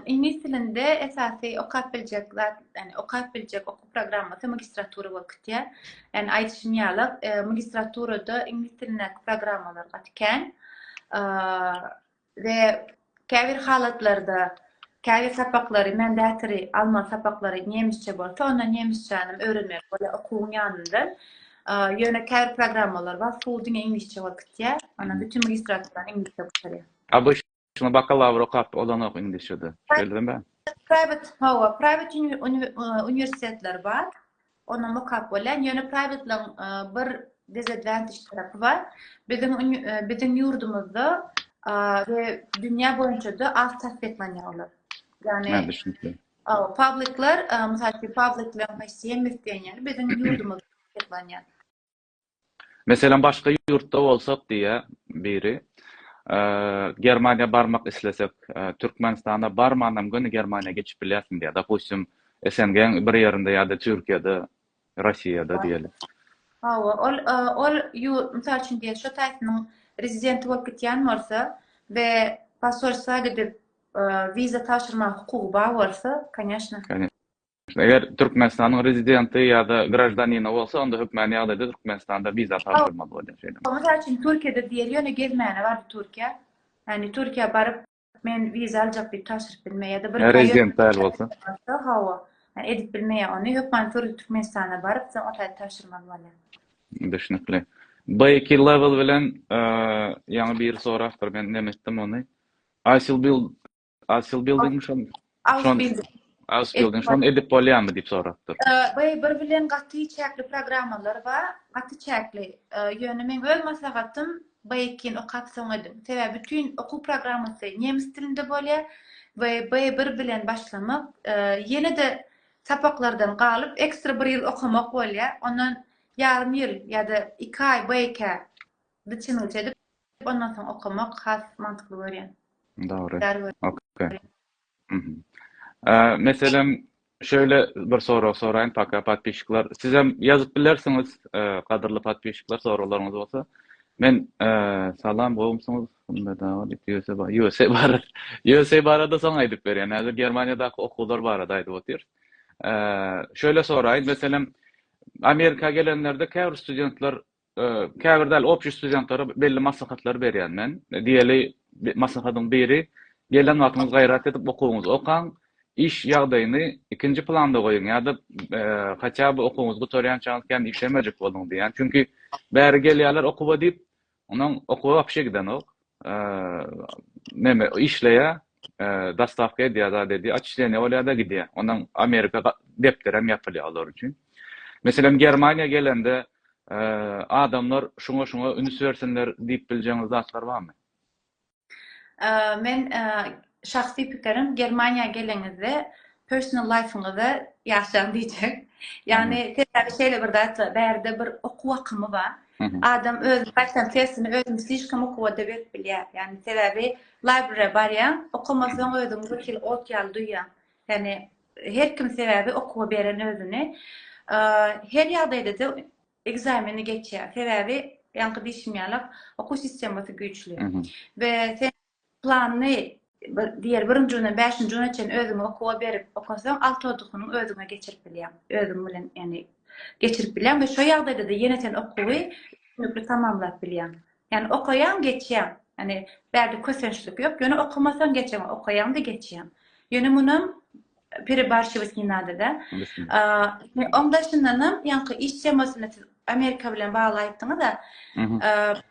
iňlis dilinde esasy okap biljek zat, ýani okap biljek okuw programmasy magistratura bolup gitýär. Ýani aýdyşym ýaly, magistraturada iňlis dilindäki programmalar gaty kän. We käbir halatlarda Käbir sapaklary mandatory almaly sapaklary nemisçe bolsa onda nemisçänem öwrenmeli bolýar okuwyň ýanyndan. Ýöne käbir programmalar bar full diňe iňlisçe bolup gitýär. Onda bütin magistraturany iňlisçe gutarýar. ABŞ-da bakalawr okap olanok iňlisçede. Şeýle däl mi? Private hawa private uniwersitetler bar. Onda mokap bolýar. Ýöne private-laň bir disadvantage tarapy bar. Biziň biziň ýurdumyzda we dünýä boýunça-da az tassyklanýar olar. Ýagny Ha, düşünikli. Aw, public-lar, mysal üçin, public-laň haýsy hem isleýän ýaly biziň ýurdumyzda tassyklanýar. Meselem başga ýurtda bolsak diýýä biri, Germaniýa barmak islesek, Türkmenistana barmanam göni Germaniýa geçip bilýärsiň diýýä. Dopustim SNG-iň bir ýerinde ýa-da Türkiýede, Rossiýada diýeli. Hawa, ol ol ýurt, mysal üçin diýeli şo taýsynyň rezidenti bolup gitýän bolsa we posolstwa gidip wiza tabşyrmaga hukugy bar bolsa, kanyashna. Eger Türkmenistanyň rezidenti ýa-da graždanini bolsa, onda hökmany ýagdaýda Türkmenistanda wiza tabşyrmaly bolýar. Şeýle. Mysal üçin, Türkiýede diýeli, ýöne gezmäne bardy Türkiýä. Ýagny Türkiýä baryp, men wiza aljak diýip tabşyryp bilmeýär ýa-da bir. Rezident däl bolsa. Hawa. Ýagny edip bilmeýär ony. Hökmany türde Türkmenistana baryp, soň otaýda tabşyrmaly bolýar. Düşnükli. Beýki level bilen ýaňy biri sorapdyr, men näme etdim ony. Ice will build. Asyl building şol. Asyl building. Asyl building şol edip bolýarmy diýip sorapdyr. Baý bir bilen gaty çäkli programmalar bar. Gaty çäkli. Ýöne men öz maslahatym baýkin okap soň edip. Sebäbi bütün okuw programmasy nemes dilinde bolýar. We baý bir bilen başlamak ýene-de sapaklardan galyp ekstra bir ýyl okamak bolýar. Ondan ýarym ýyl ýa-da 2 aý baýka biçimiňçe edip Diýip ondan soň okamak has mantykly görýän. Dogry. Zar gör. Okey. Mhm. Ä, Meselem, şeýle bir sorag soraýyn, paka podpisçikler. Sizem ýazyp bilersiňiz, e, gadyrly podpisçikler, soraglaryňyz bolsa. Men, e, Salam, gowumsyňyz? Hümmet aga diýip, USA ba- USA barada, USA barada soň aýdyp berýän. Häzir Germaniýadaky okuwlar barada aýdyp otyrys. E, Şeýle soraýyn, meselem, Amerika gelenlerde käbir studentler käbir däl opjy studentlara belli maslahatlar berýän men. Diýeli, maslahatyň biri, gelen wagtyňyz gaýrat edip okuwyňyzy okaň, iş ýagdaýyny ikinji planda goýuň ýa-da haçan bu okuwyňyzy gutarýançaňyz kän işlemejek boluň diýýän. Çünki bäri gelýärler okuwa diýip, onuň okuwa wapşe gidenok. neme işleýär, dostawka edýär zat edýär, atçisleniýa bolýar-da gidýär. Ondan Amerika depderi hem ýapylýar olar üçin. Meselem, Germaniýa gelende adamlar şuňa-şuňa üns bersinler diýip biljeňiz zatlar barmy? Men Şahsy pikirim Germaniýa geleňizde personal life-yňyza ýaşaň diýjek. Ýagny sebäbi şeýle bir zat bar, bärde bir okuw akymy bar. Adam özüni gaýtam tersine özüni slişkom okuwa-da berip bilýär. Ýagny sebäbi library-a barýaň, okamasaň özüňi bir hili ot ýaly duýýaň. Ýagny her kim sebäbi okuwa beren özüni. Her ýagdaýda-da ekzameni geçýär. Sebäbi ýaňky diýşim ýaly okuw sistemasy güýçli. We sen Planyny bir diýer birinji günden bäşinji güne çenli özüňi okuwa berip okasaň alty odukynyň özüňe geçirip bilýäň. Özüň bilen ýagny geçirip bilýäň we şo ýagdaýda-da ýene sen okuwy üstünlikli tamamlap bilýäň. Ýagny okaýaň geçýäň. Ýagny bärde kösençlik ýok. Ýöne okamasaň geçemok. Okaýaň-da geçýäň. Ýöne munam Perebarşewesnýnadada. Oň daşyndanam, ýaňky iş temasyny siz Amerika bilen bagly aýtdyňyz-a.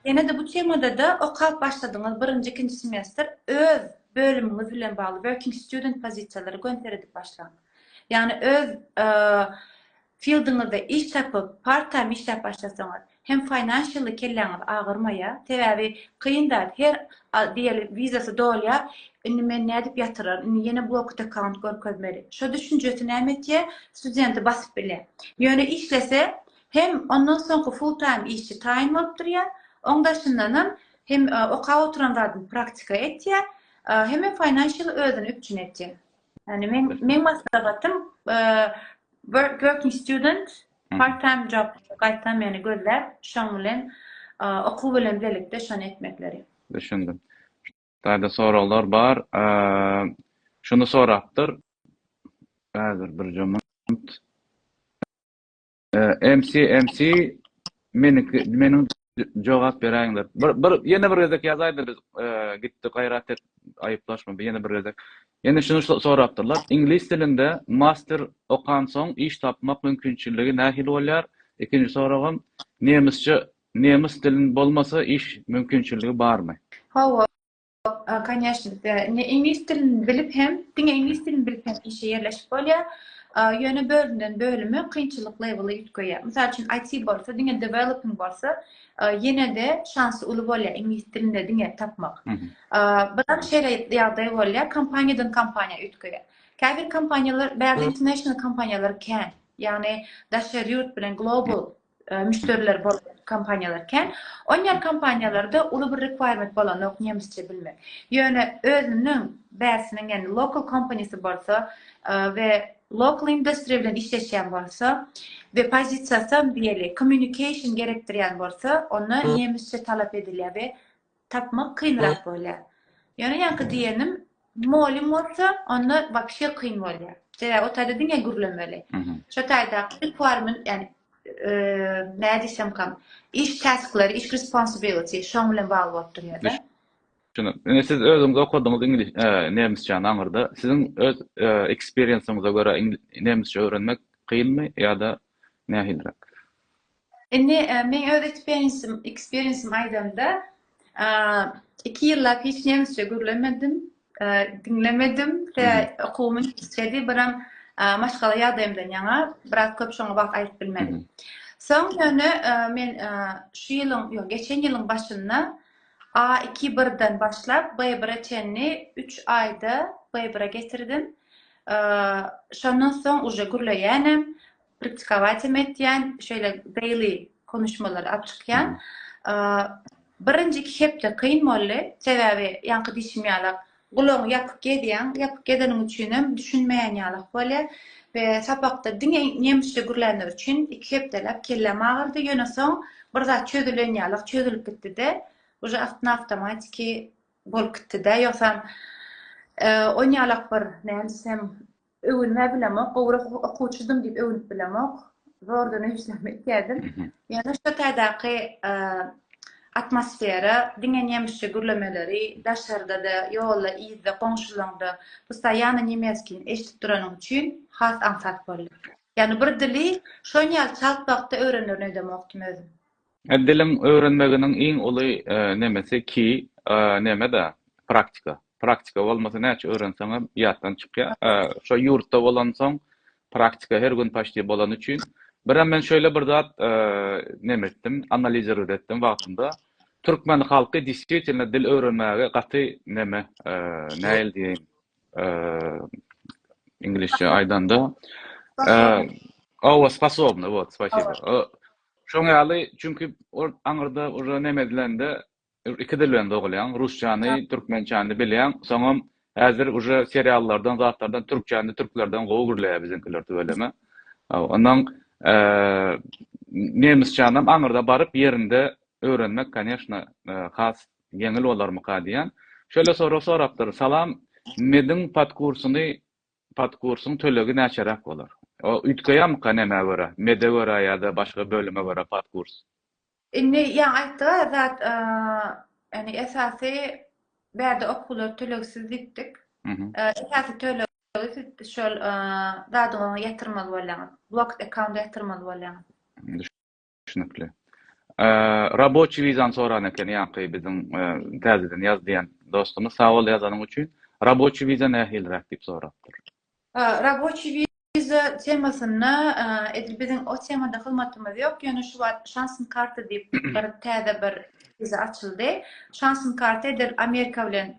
Ýene-de bu temada-da okap başladyňyz, birinji, ikinji semestr öz bölümiňiz bilen bagly working student pozisiýalary göni seredip başlaň. Ýagny öz Fieldiňizde iş tapyp, part time işläp başlasaňyz, hem financially kelläňiz agyrmaýa, sebäbi kyn zat, her al diýeli wizasy dolýa, indi men nädip ýatyrar, indi ýene blocked account görkezmeli. Şo düşünjesi näme etýä, studenti basyp bilýä. Ýöne işlese, hem ondan soňky full time işi taýyn bolup durýa, oň daşyndanam hem okap oturan zadyny praktika etýä, hemem financially özüni üpjün etýä. Yani men men maslahatym work working student part time job gaýtam yani gözläp şoň bilen okuw bilen birlikde şony etmekleri. Düşündim. Şularda soraglar bar. Şunu sorapdyr. Häzir bir jomant. MC MC meniki meniň jogap beräýiňler. Bir bir ýene bir gezek ýazaýda biz e, gitdi gaýrat et aýyplaşma bir ýene bir gezek. Ýene şunu so- sorapdyrlar. Iňlis dilinde master okan soň iş tapmak mümkinçiligi nähili bolýar? Ikinji soragym nemisçe nemis dilin bolmasa iş mümkinçiligi barmy? Hawa, Конечно, ne iňlis dilini bilip hem, diňe iňlis dilini bilip hem işe ýerleşip bolýar. Ýöne bölümden bölüme kynçylyk leweli üýtgeýär. Mysal üçin, IT bolsa, diňe developing bolsa, ýene-de şansy uly bolýar iňlis dilinde diňe tapmak. Biram şeýle ýagdaý bolýar, kompaniýadan kompaniýa üýtgeýär. Käbir kompaniýalar, bäri international kompaniýalar kän, ýagny daşary ýurt bilen global müşderileri bolan kompaniýalar kän. On ýer kompaniýalarda uly bir requirement bolanok nemsçe bilmek. Ýöne özüniň bäsiniň ýani local company-si bolsa we local industry bilen işleşýän bolsa we pozisiýasy hem diýeli communication gerekdirýän bolsa onda nemsçe talap edilýär we tapmak kynrak bolýar. Ýöne ýaňky diýenim, molim bolsa, onda wapşe kyn bolýar. Sebäbi o taýda diňe gürlemeli. Şo taýda requirement, ýani näme diýsem kam, iş tasklary, iş responsibility şoň bilen bagly bolup durýar-da. Düşündim. Indi siz özüňiz okadyňyz iňlis, nemisçäni aňyrda. Siziň öz eksperiensiňize görä nemisçe öwrenmek kynmy ýa-da nähiliräk? Indi men öz eksperiensim, eksperiensim aýdamda, iki ýyllap hiç nemisçe gürlemedim, diňlemedim we okuwym inçedi, biram maşgala ýagdaýymdan ýaňa biraz köp şoňa wagt aýryp bilmedim. Soň ýöne men şu ýylyň, ýok, geçen ýylyň başynda A2-1-den başlap B1-e çenli üç aýda B1-e getirdim. Şondan soň uje gürleýänem, praktikowat hem etýän, şeýle daily konuşmalary alyp çykýan. Birinji iki hepde kyn boldy, sebäbi ýaňky diýşim ýaly gulagyňy ýapyp gezýäň, ýapyp gezeniň üçin hem düşünmeýän ýaly bolýar we sapakda diňe nemisçe gürlänleri üçin iki hepdeläp kelläm agyrdy, ýöne soň bir zat çözülen ýaly çözülip gitdi-de, uje awtomatiki bolup gitdi-de, ýogsam oňýalak bir näme diýsem, Öwünmä bilemok, gowrak okuwçydym diýip öwünip bilemok. Zordan öýsem etýärdim. Ýöne şu taýdaky atmosfera, diňe nemisçe gürlemeleri, daşarda-da, ýolda, yzda, goňşulaňda, postoýanno nemeskin eşidip duranyň üçin has aňsat boldy. Ýagny bir dili şon ýaly çalt wagtda öwrenerin öýdemokdym özüm. Diliň öwrenmeginiň iň uly nemesi ki neme-da, praktika. Praktika bolmasa näçe öwrenseňem ýatdan çykýar. Şo ýurtda bolansoň praktika her gün paçti bolany üçin. Birem men şeýle bir zat neme etdim, analizirgit etdim wagtynda. Türkmen halky deswitelno dil öwrenmäge gaty neme, nähili diýeýin, iňlisçe aýdanda, owa, sposobny, wot, spasibo. Şoň ýaly, çünki ol aňyrda uje neme edilende iki dil bilen dogulýaň, rusçany, türkmençäni bilýäň, soňam häzir uje seriallardan, zatlardan türkçäni türklerden gowy gürleýär biziňkiler tüweleme. Ondan nemisçänam aňyrda baryp ýerinde öwrenmek, koneşna, has ýeňil bolarmyka diýýän. Şeýle sorag sorapdyr, Salam, Mediň podkursyny Podkursyň tölegi näçeräk bolar? Ol üýtgeýärmika nämä görä, mede görä ýa-da başga bölüme görä podkurs? Indi ýaňy aýtdyga zat ýagny esasy bärde okuwlar tölegsiz diýipdik. Esasy tölegi siz şol zadyňyzy ýatyrmaly bolýaňyz. Blocked account ýatyrmaly bolýaňyz. Düşnükli. Raboçi wizany soran eken ýaňky biziň täzeden ýaz diýen dostumyz. Sag bol ýazanyň üçin. Raboçi wiza nähiliräk diýip sorapdyr. Raboçi wiza temasynda edil biziň o temada hyzmatymyz ýok, ýöne şu wagt Şansn karta diýip bir täze bir wiza açyldy. Şansn karta edil Amerika bilen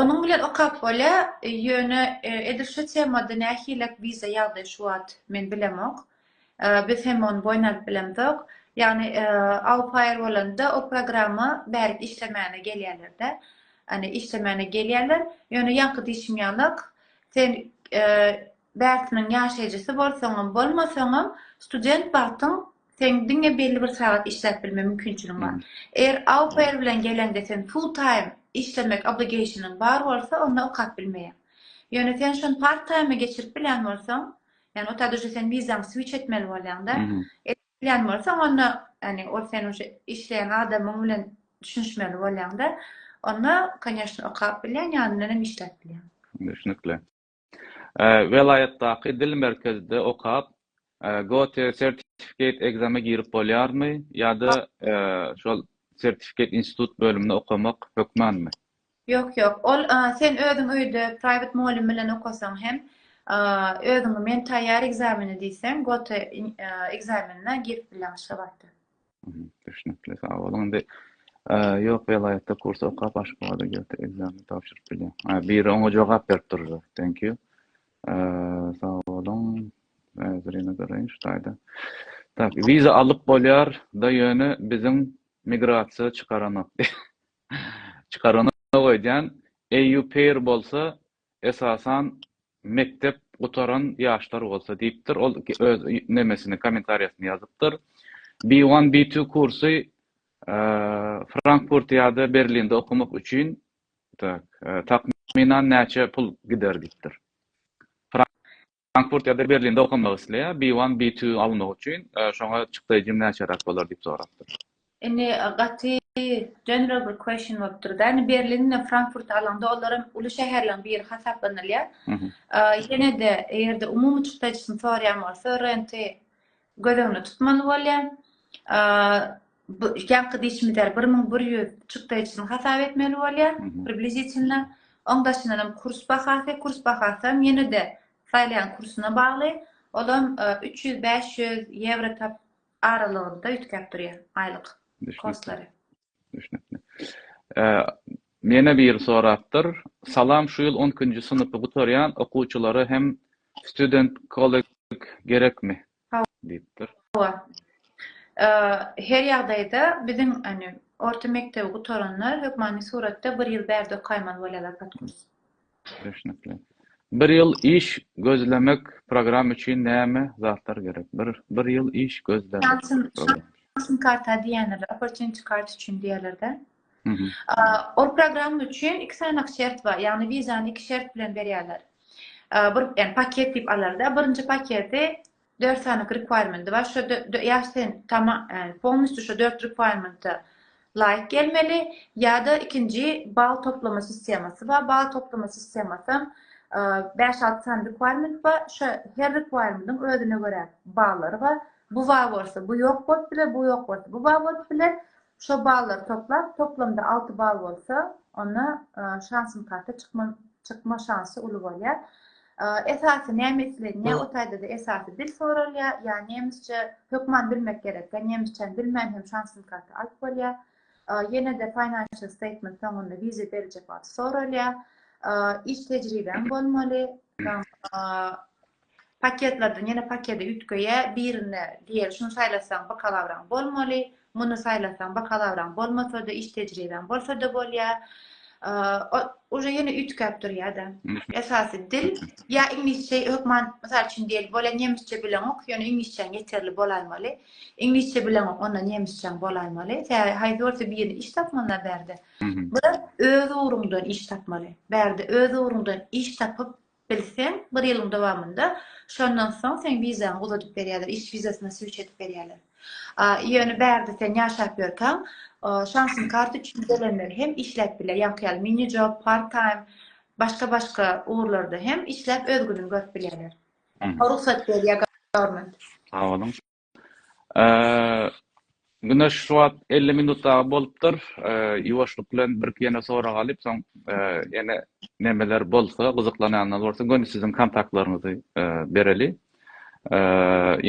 Onuň bilen okap bolýa, ýöne edil şu temada nähilek wiza ýagdaýy şu wagt men bilemok. Biz hem ony boýun alyp bilemzok. Ýagny aupair bolanda o programma bärik işlemäne gelýärlerde. Ýagny işlemäne gelýärler. Ýöne ýaňky diýşim ýalak, sen bärtiniň ýaşaýjysy bolsaňam, bolmasaňam student wagtyň Seň diňe belli bir sagat işläp bilme mümkinçiligiň bar. Eger au pair bilen geleňde sen full time işlemek obligationyň bar bolsa, onda okap bilmeýäň. Ýöne sen şony part time-a geçirip bilýän bolsaň, ýagny otad uje sen wizaňy switch etmeli bolýaňda, edip bilýän bolsaň, onda, ýagny ol seniň şu işleýän adamyň bilen düşünişmeli bolýaňda, onda, konýeşne, okap bilýäň, ýanyndan hem işläp bilýäň. Düşnükli. Welaýatdaky dil merkezde okap, Goethe Certificate Exam-e girip bolýarmy ýa-da şol Certificate Institute bölümine okamak hökmanmy? Ýok, ýok. Ol sen özüň öýde private mugallym bilen okasaň hem, özüňi men taýýar ekzameni diýseň, Goethe ekzamenine girip bileň şo wagtda. Düşnükli, sag boluň. Indi ýok welaýatda kurs okap Aşgabada gelip ekzamen tabşyryp bilýän. Ha, biri oňa jogap berip durdy. Thank you. Sag boluň. Häzir ýene garaýyn şu taýda. Tak, wiza alyp bolýar da ýöne biziň migrasiýa çykaranok. Çykaranok öýdýän. EU pair bolsa esasan mekdep gutaran ýaşlar bolsa diýipdir ol öz nemesini kommentariýasyny ýazypdyr B one B two kursy Frankfurt ýada Berlinde okamak üçin tak takmynan näçe pul gider diýipdir. Frankfurt ýa-da Berlinde okamak isleýär, B-one, B-two almak üçin şoňa çykdaýjyň näçeräk bolar diýip sorapdyr. Indi gaty general bir question bolupdyr-da. Indi Berlin bilen Frankfurty alaňda olar hem uly şäherleriň biri hasaplanylýar. Ýene-de eger-de umumy çykdaýjysyny soraýan bolsa renti Göz öňüne tutmaly bolýar. Ýaňky dişimizi bir müň bir ýüz çykdaýjysyny hasap etmeli bolýar, približitiwno. Oň daşyndan hem kurs bahasy, kurs bahasy hem ýene-de saýlaýan kursyna bagly. Ol hem üç ýüz, bäş ýüz ýewro aralygynda üýtgäp durýar aýlyk kurslary. Düşnükli. Ýene biri sorapdyr. Salam şu ýyl on ikinji synpy gutarýan okuwçylara hem student college gerekmi? diýipdir. Hawa. Her ýagdaýda biziň orta mekdebi gutaranlar hökmany suratda bir ýyl bärde okaýmaly bolýarlar podkurs. Düşnükli. Bir ýyl iş gözlemek program üçin näme zatlar gerek? Bir bir ýyl iş gözlemek. Şansyn karta diýenler, opportunity card üçin diýerlerde. Ol program üçin iki sanak şert bar. Ýagny wizany iki şert bilen berýärler. Bir, ýagny paket diýip alarda. Birinji paketi Dört sanyk requirement bar şo ýa sen tama ýani polnistü şo dört requirementa laýyk gelmeli ýa-da ikinji bal toplama sistemasy bar bal toplama sistemasam bäş alty sany requirement bar şo her requiremendiň özüne görä ballary bar bu bar bolsa bu ýok bolup biler bu ýok bolsa bu bar bolup biler Şo ballary toplap, toplamda alty ball bolsa, onda şansyn karta çykma çykma şansy uly bolýar. Esasy näme islenýär? O taýda-da esasy dil soralýar. Ýa nemisçe hökman bilmek gerek. Ýa nemisçäni bilmän hem şansyn karta alyp bolýar. Ýene-de financial statement soňunda wiza berijek wagty soralýar. Iş tejribeň bolmaly. Paketlerden ýene pakede üýtgeýä birine diýeli şuny saýlasaň bakalawraň bolmaly, muny saýlasaň bakalawraň bolmasada iş tejribäň bolsada bolýa. Uje ýene üýtgäp durýada. Esasy dil ýa iňlisçe hökman mysal üçin diýeli bolýa nemisçe bileňok ýöne iňlisçäň ýeterli bolaýmaly. Iňlisçe bileňok onda nemisçäň bolaýmaly. Täze haýsy bolsa birine iş tapmana bärde. Bula öz ugruňdan iş tapmaly. Bärde öz ugruňdan iş tapyp Bilseň, bir ýylyň dowamynda, şondan soň seň wizaňy uzadyp berýärler, iş wizasyna switch edip berýärler. Ýöne bärde sen ýaşap ýörkäň, şansyn karta üçin gelenler hem işläp bilýär, ýaňky ýaly mini job, part time, başga-başga ugurlarda hem işläp öz gününi görüp bilýärler. Rugsat berýär government. Sag boluň. Güneş şu wagt elli minut dagy bolupdyr. Ýuwaşlyk bilen birki ýene sorag alyp, soň ýene nemeler bolsa, gyzyklanýanlar bolsa, göni siziň kontaktlaryňyzy bereli.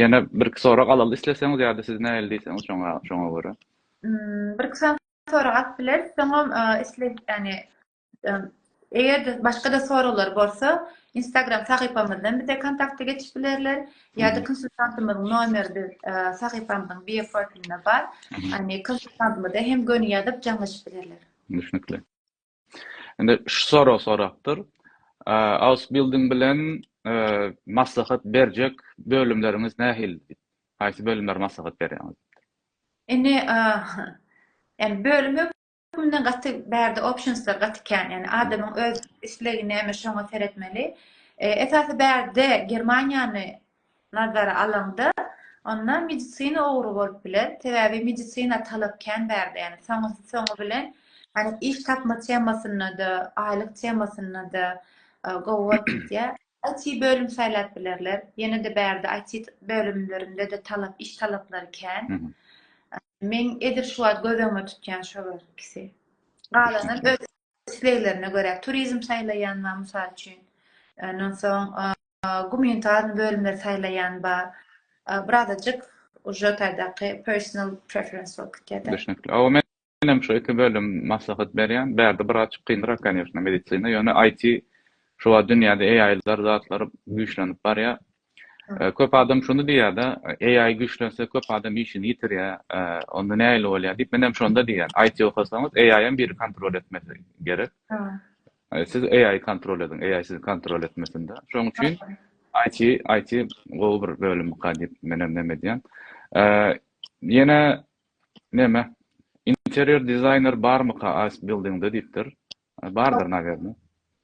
Ýene birki sorag alaly isleseňiz ýa-da siz nähili diýseňiz şoňa görä. Birki sorag alyp bileris, soňam isle ýagny Eger başga-da soraglar bolsa, Instagram sahypamyzdan bize kontakta geçip bilerler. Ýa-da konsultantymyzyň nomeri biz sahypamyzyň bioprofilinde bar. Ýani konsultantymyza hem göni ýazyp jaňlaşyp bilerler. Düşnükli. Indi şu sorag sorapdyr. Ausbilding bilen maslahat berjek bölümleriňiz nähili? Haýsy bölümler maslahat berýäňiz? Indi, ýani bölüm Unda gaty bärde optionslar gaty kän, ýagny adamyň öz islegi näme şoňa seretmeli. Esasy bärde Germaniýany nazara alaňda, onda medisina ugry bolup biler, sebäbi medisina talap kän bärde, ýagny soňusy soňy bilen, ýagny iş tapma temasynda-da, aýlyk temasynda-da gowy bolup gidýär. IT bölüm saýlap bilerler. Ýene-de bärde IT bölümlerinde-de talap, iş talaplary kän. Men edil şu wagt göz öňüme tutýan şolar ikisi. Galanam öz isleglerine görä. Turizm saýlaýan bar, mysal üçin. Ondan soň gumanitarny bölümleri saýlaýan bar. Birazajyk uje taýdaky personal preference bolup gitýär-de. Düşnükli. Men hem şu iki bölüm maslahat berýän. Bärde biraz çyk kynrak kanyýeşna medisina ýöne IT şu wagt dünýäde AI-lar zatlar güýçlenip barýa. Köp adam şuny diýýädä AI güýçlense köp adam işini ýitirýä onda nähili bolýa diýip men hem şonda diýýän IT okasaňyz AI hem biri kontrol etmesi gerek. Siz AI kontrol ediň AI sizi kontrol etmesinde. Şoň üçin IT IT gowy bir bölüm ka diýip men hem näme diýän. Ýene Näme? Interýer dizaýner barmyka Ausbildingde diýipdir. Bardyr nawerne.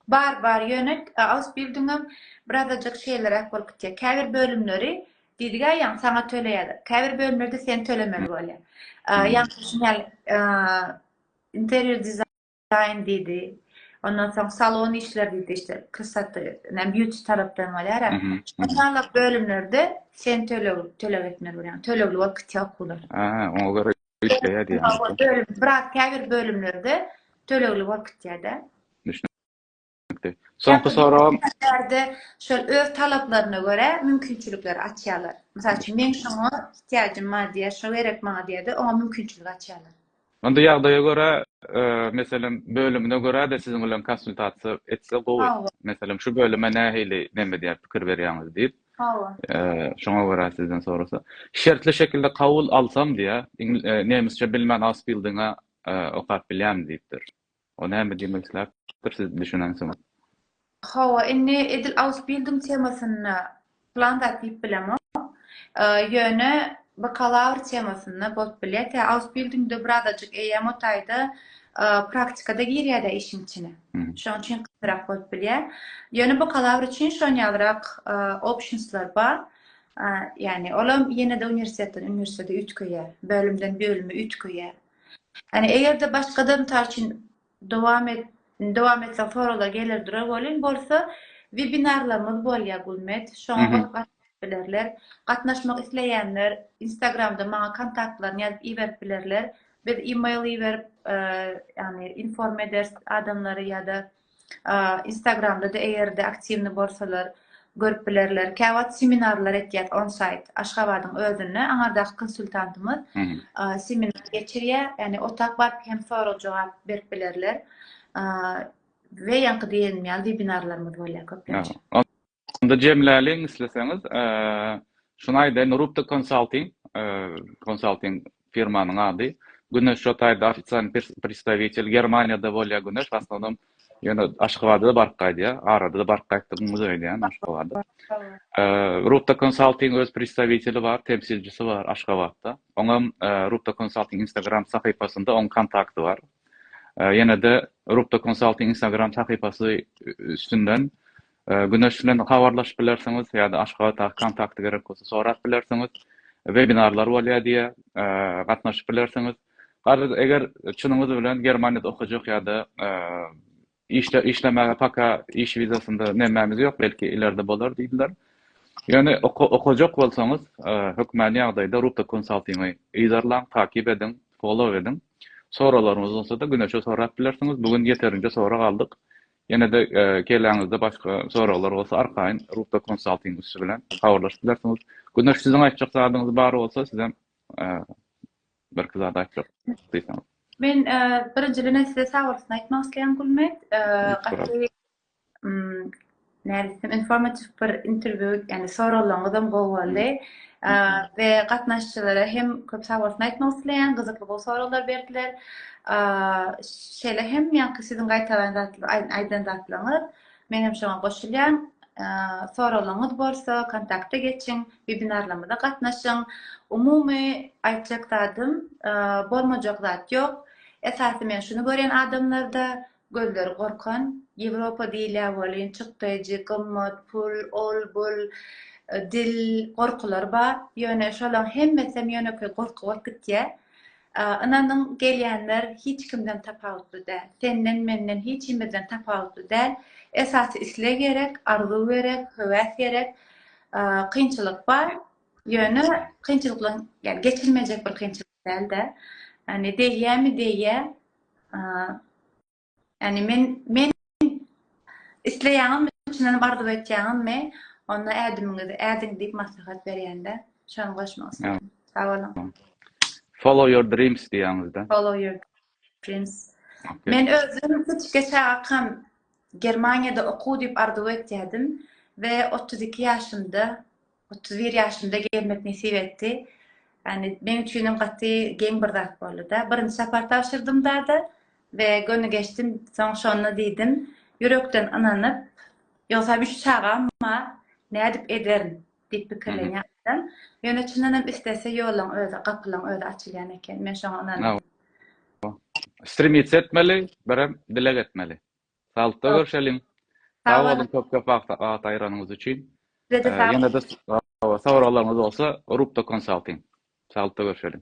Bar bar ýöne Ausbildingem birazajyk şeýleräk bolup gitýär. Käbir bölümleri diýdigä ýaňy saňa töleýärler. Käbir bölümlerde sen tölemeli bolýar. Ýa-da şuny ýaly interýer dizaýner. Daýyn diýdi. Ondan soň salon işleri diýdi işte kysat näme beauty tarapdan bolýar. Şonda bölümlerde sen töleg töleg etmeli bolýaň. Tölegli bolup gitýär okuwlar. Aha, oňa görä işleýär diýýär. Bölüm, brat käbir bölümlerde tölegli bolup gitýär-de. etmekde. Soňky soragym. Käte şol öz talaplaryna görä mümkinçilikleri açýarlar. Mysal üçin, meň şoňa ihtiýajym bar diýýär, şo gerek maňa diýýär-de, oňa mümkinçilik açýarlar. Onda ýagdaýa görä, meselem, bölümine görä-de siziň bilen konsultasiýa etse gowy. Meselem, şu bölüme nähili näme diýýär, pikir berýäňiz diýip. Hawa. Şoňa görä sizden sorasa. Şertli şekilde kabul alsam diýýär, nemisçe bilmän ausbildinga okap bilýämi diýipdir. O näme diýmek islapdir siz düşüneňsoň. Hawa indi edil ausbildung temasynda plan zat diýip bilemok. Ýöne bakalawr temasynda bolup bilýär. Tä ausbildungda birazajyk eýýäm o taýda praktikada girýärde işiň içine. Şoň üçin kynrak bolup bilýär. Ýöne bakalawr üçin şon ýalyrak optionslar bar. Ýagny olam ýene-de uniwersitetden uniwersitete üýtgeýär, bölümden bölüme üýtgeýär. Ýani eger-de başgadan mysal üçin dowam et dowam etseň soraglar geler durar welin bolsa webinarlarymyz bolýar Gulmet şoňa bolup gatnaşyp bilerler. Gatnaşmak isleýänler instagramda maňa kontaktlaryny ýazyp iberip bilerler. Biz email iberip ýani inform ederis adamlary ýa-da Instagramda-da eger-de aktiwny bolsalar, görüp bilerler. Käwagt seminarlar etýäs onsayt, Aşgabadyň özünde, aňardaky konsultantymyz seminar geçirýär, ýagny otag baryp hem sorag-jogap berip bilerler. We ýaňky diýenim ýaly webinarlarymyz bolýar köplenç. Onda jemläliň isleseňiz, şuny aýdaýyn, Rupta Konsalting, konsalting firmanyň ady. Güneş şo taýda ofisial predstawitel, Germaniýada bolýar Güneş, w asnownam ýöne Aşgabada-da baryp gaýdýar, arada-da baryp gaýtdygyňyz öýdýän Aşgabada. Rupta Konsalting öz predstawiteli bar, temsilçisi bar Aşgabatda. Oňam Rupta Konsalting Instagram sahypasynda oň kontakty bar. Ýene-de Rupta Konsalting Instagram sahypasy üstünden Güneş bilen habarlaşyp bilersiňiz ýa-da Aşgabatdaky kontakty gerek bolsa sorap bilersiňiz. Webinarlar bolýar diýýär, gatnaşyp bilersiňiz. Garaz, eger çynyňyz bilen Germaniýada okajak ýa-da işde işlemäge paka iş wizasynda nämämiz ýok, belki ilerde bolar diýdiler. Ýöne okajak bolsaňyz, hökmany ýagdaýda Ruta Konsaltingy yzarlaň, takyp ediň, follow ediň. Soraglaryňyz bolsa-da Güneşe sorap bilersiňiz. Bu gün ýeterinje sorag aldyk. Ýene-de keläňizde başga soraglar bolsa arkaýyn Ruta Konsalting üsti bilen habarlaşyp bilersiňiz. Güneş siziň aýtjak zadyňyz bar bolsa sizem birki zat aýtjak diýseňiz. Men birinjiden size sag bolsun aýtmak isleýän Gulmet. Gaty nädip diýsem informatiw bir interwýu, ýagny soraglaryňyzam gowy boldy. we gatnaşyjylara hem köp sag bolsun aýtmak isleýän, gyzykly gowy soraglar berdiler. Şeýle hem ýaňky siziň gaýtalaýan zatlaryňyz, aýdan zatlaryňyz, men hem şoňa goşulýan. Soraglaryňyz bolsa, kontakta geçiň, webinarlarymyza gatnaşyň. Umumy aýtjak zadym, bolmajak zat ýok. Esasy men şuny görýän adamlarda, Gözleri gorkan, Ýewropa diýilýär welin, çykdaýjy, gymmat, pul, ol-bul, dil, gorkular bar. Ýöne şolaryň hemmesem ýönekeý gorky bolup gitýär. Ynanyň, gelýänler hiç kimden tapawutly däl. Senden, menden, hiç kimizden tapawutly däl. Esasy isleg gerek, arzuw gerek, höwes gerek. Kynçylyk bar. Ýöne kynçylyklaryň, ýa geçilmejek bir kynçylyk. Däl-de. Ýani degýämi degýä. Ýani men men isleýäňizmi çyndanam arzuw etýäňizmi? Onda ädimiňizi ädiň diýip maslahat berýän-de. Şony goşmak isledim. Sag boluň. Follow your dreams diýýäňizde. Follow your dreams. Men özüm kiçike çagakam Germaniýada okuw diýip arzuw etýädim we otuz iki ýaşymda Otuz bir ýaşymda gelmek nesip etdi. Ýani meň üçin hem gaty geň bir zat boldy-da. Birinji sapar tabşyrdym dada we göni geçdim. Soň şonda diýdim, ýürekden ynanyp, ýogsam üç çagam bar, nädip ederin diýip pikirlenýärdim. Ýöne çyndan hem islese ýoluň özi, gapylaň özi açylýan eken. Men şoňa ynandym. Strimits etmeli, birem dileg etmeli. Saglyklda görşeliň. Sag boluň köp köp wagt aýranyňyz üçin. Ýene-de soraglaryňyz bolsa Rubda konsalting. Saglyklda görşeliň.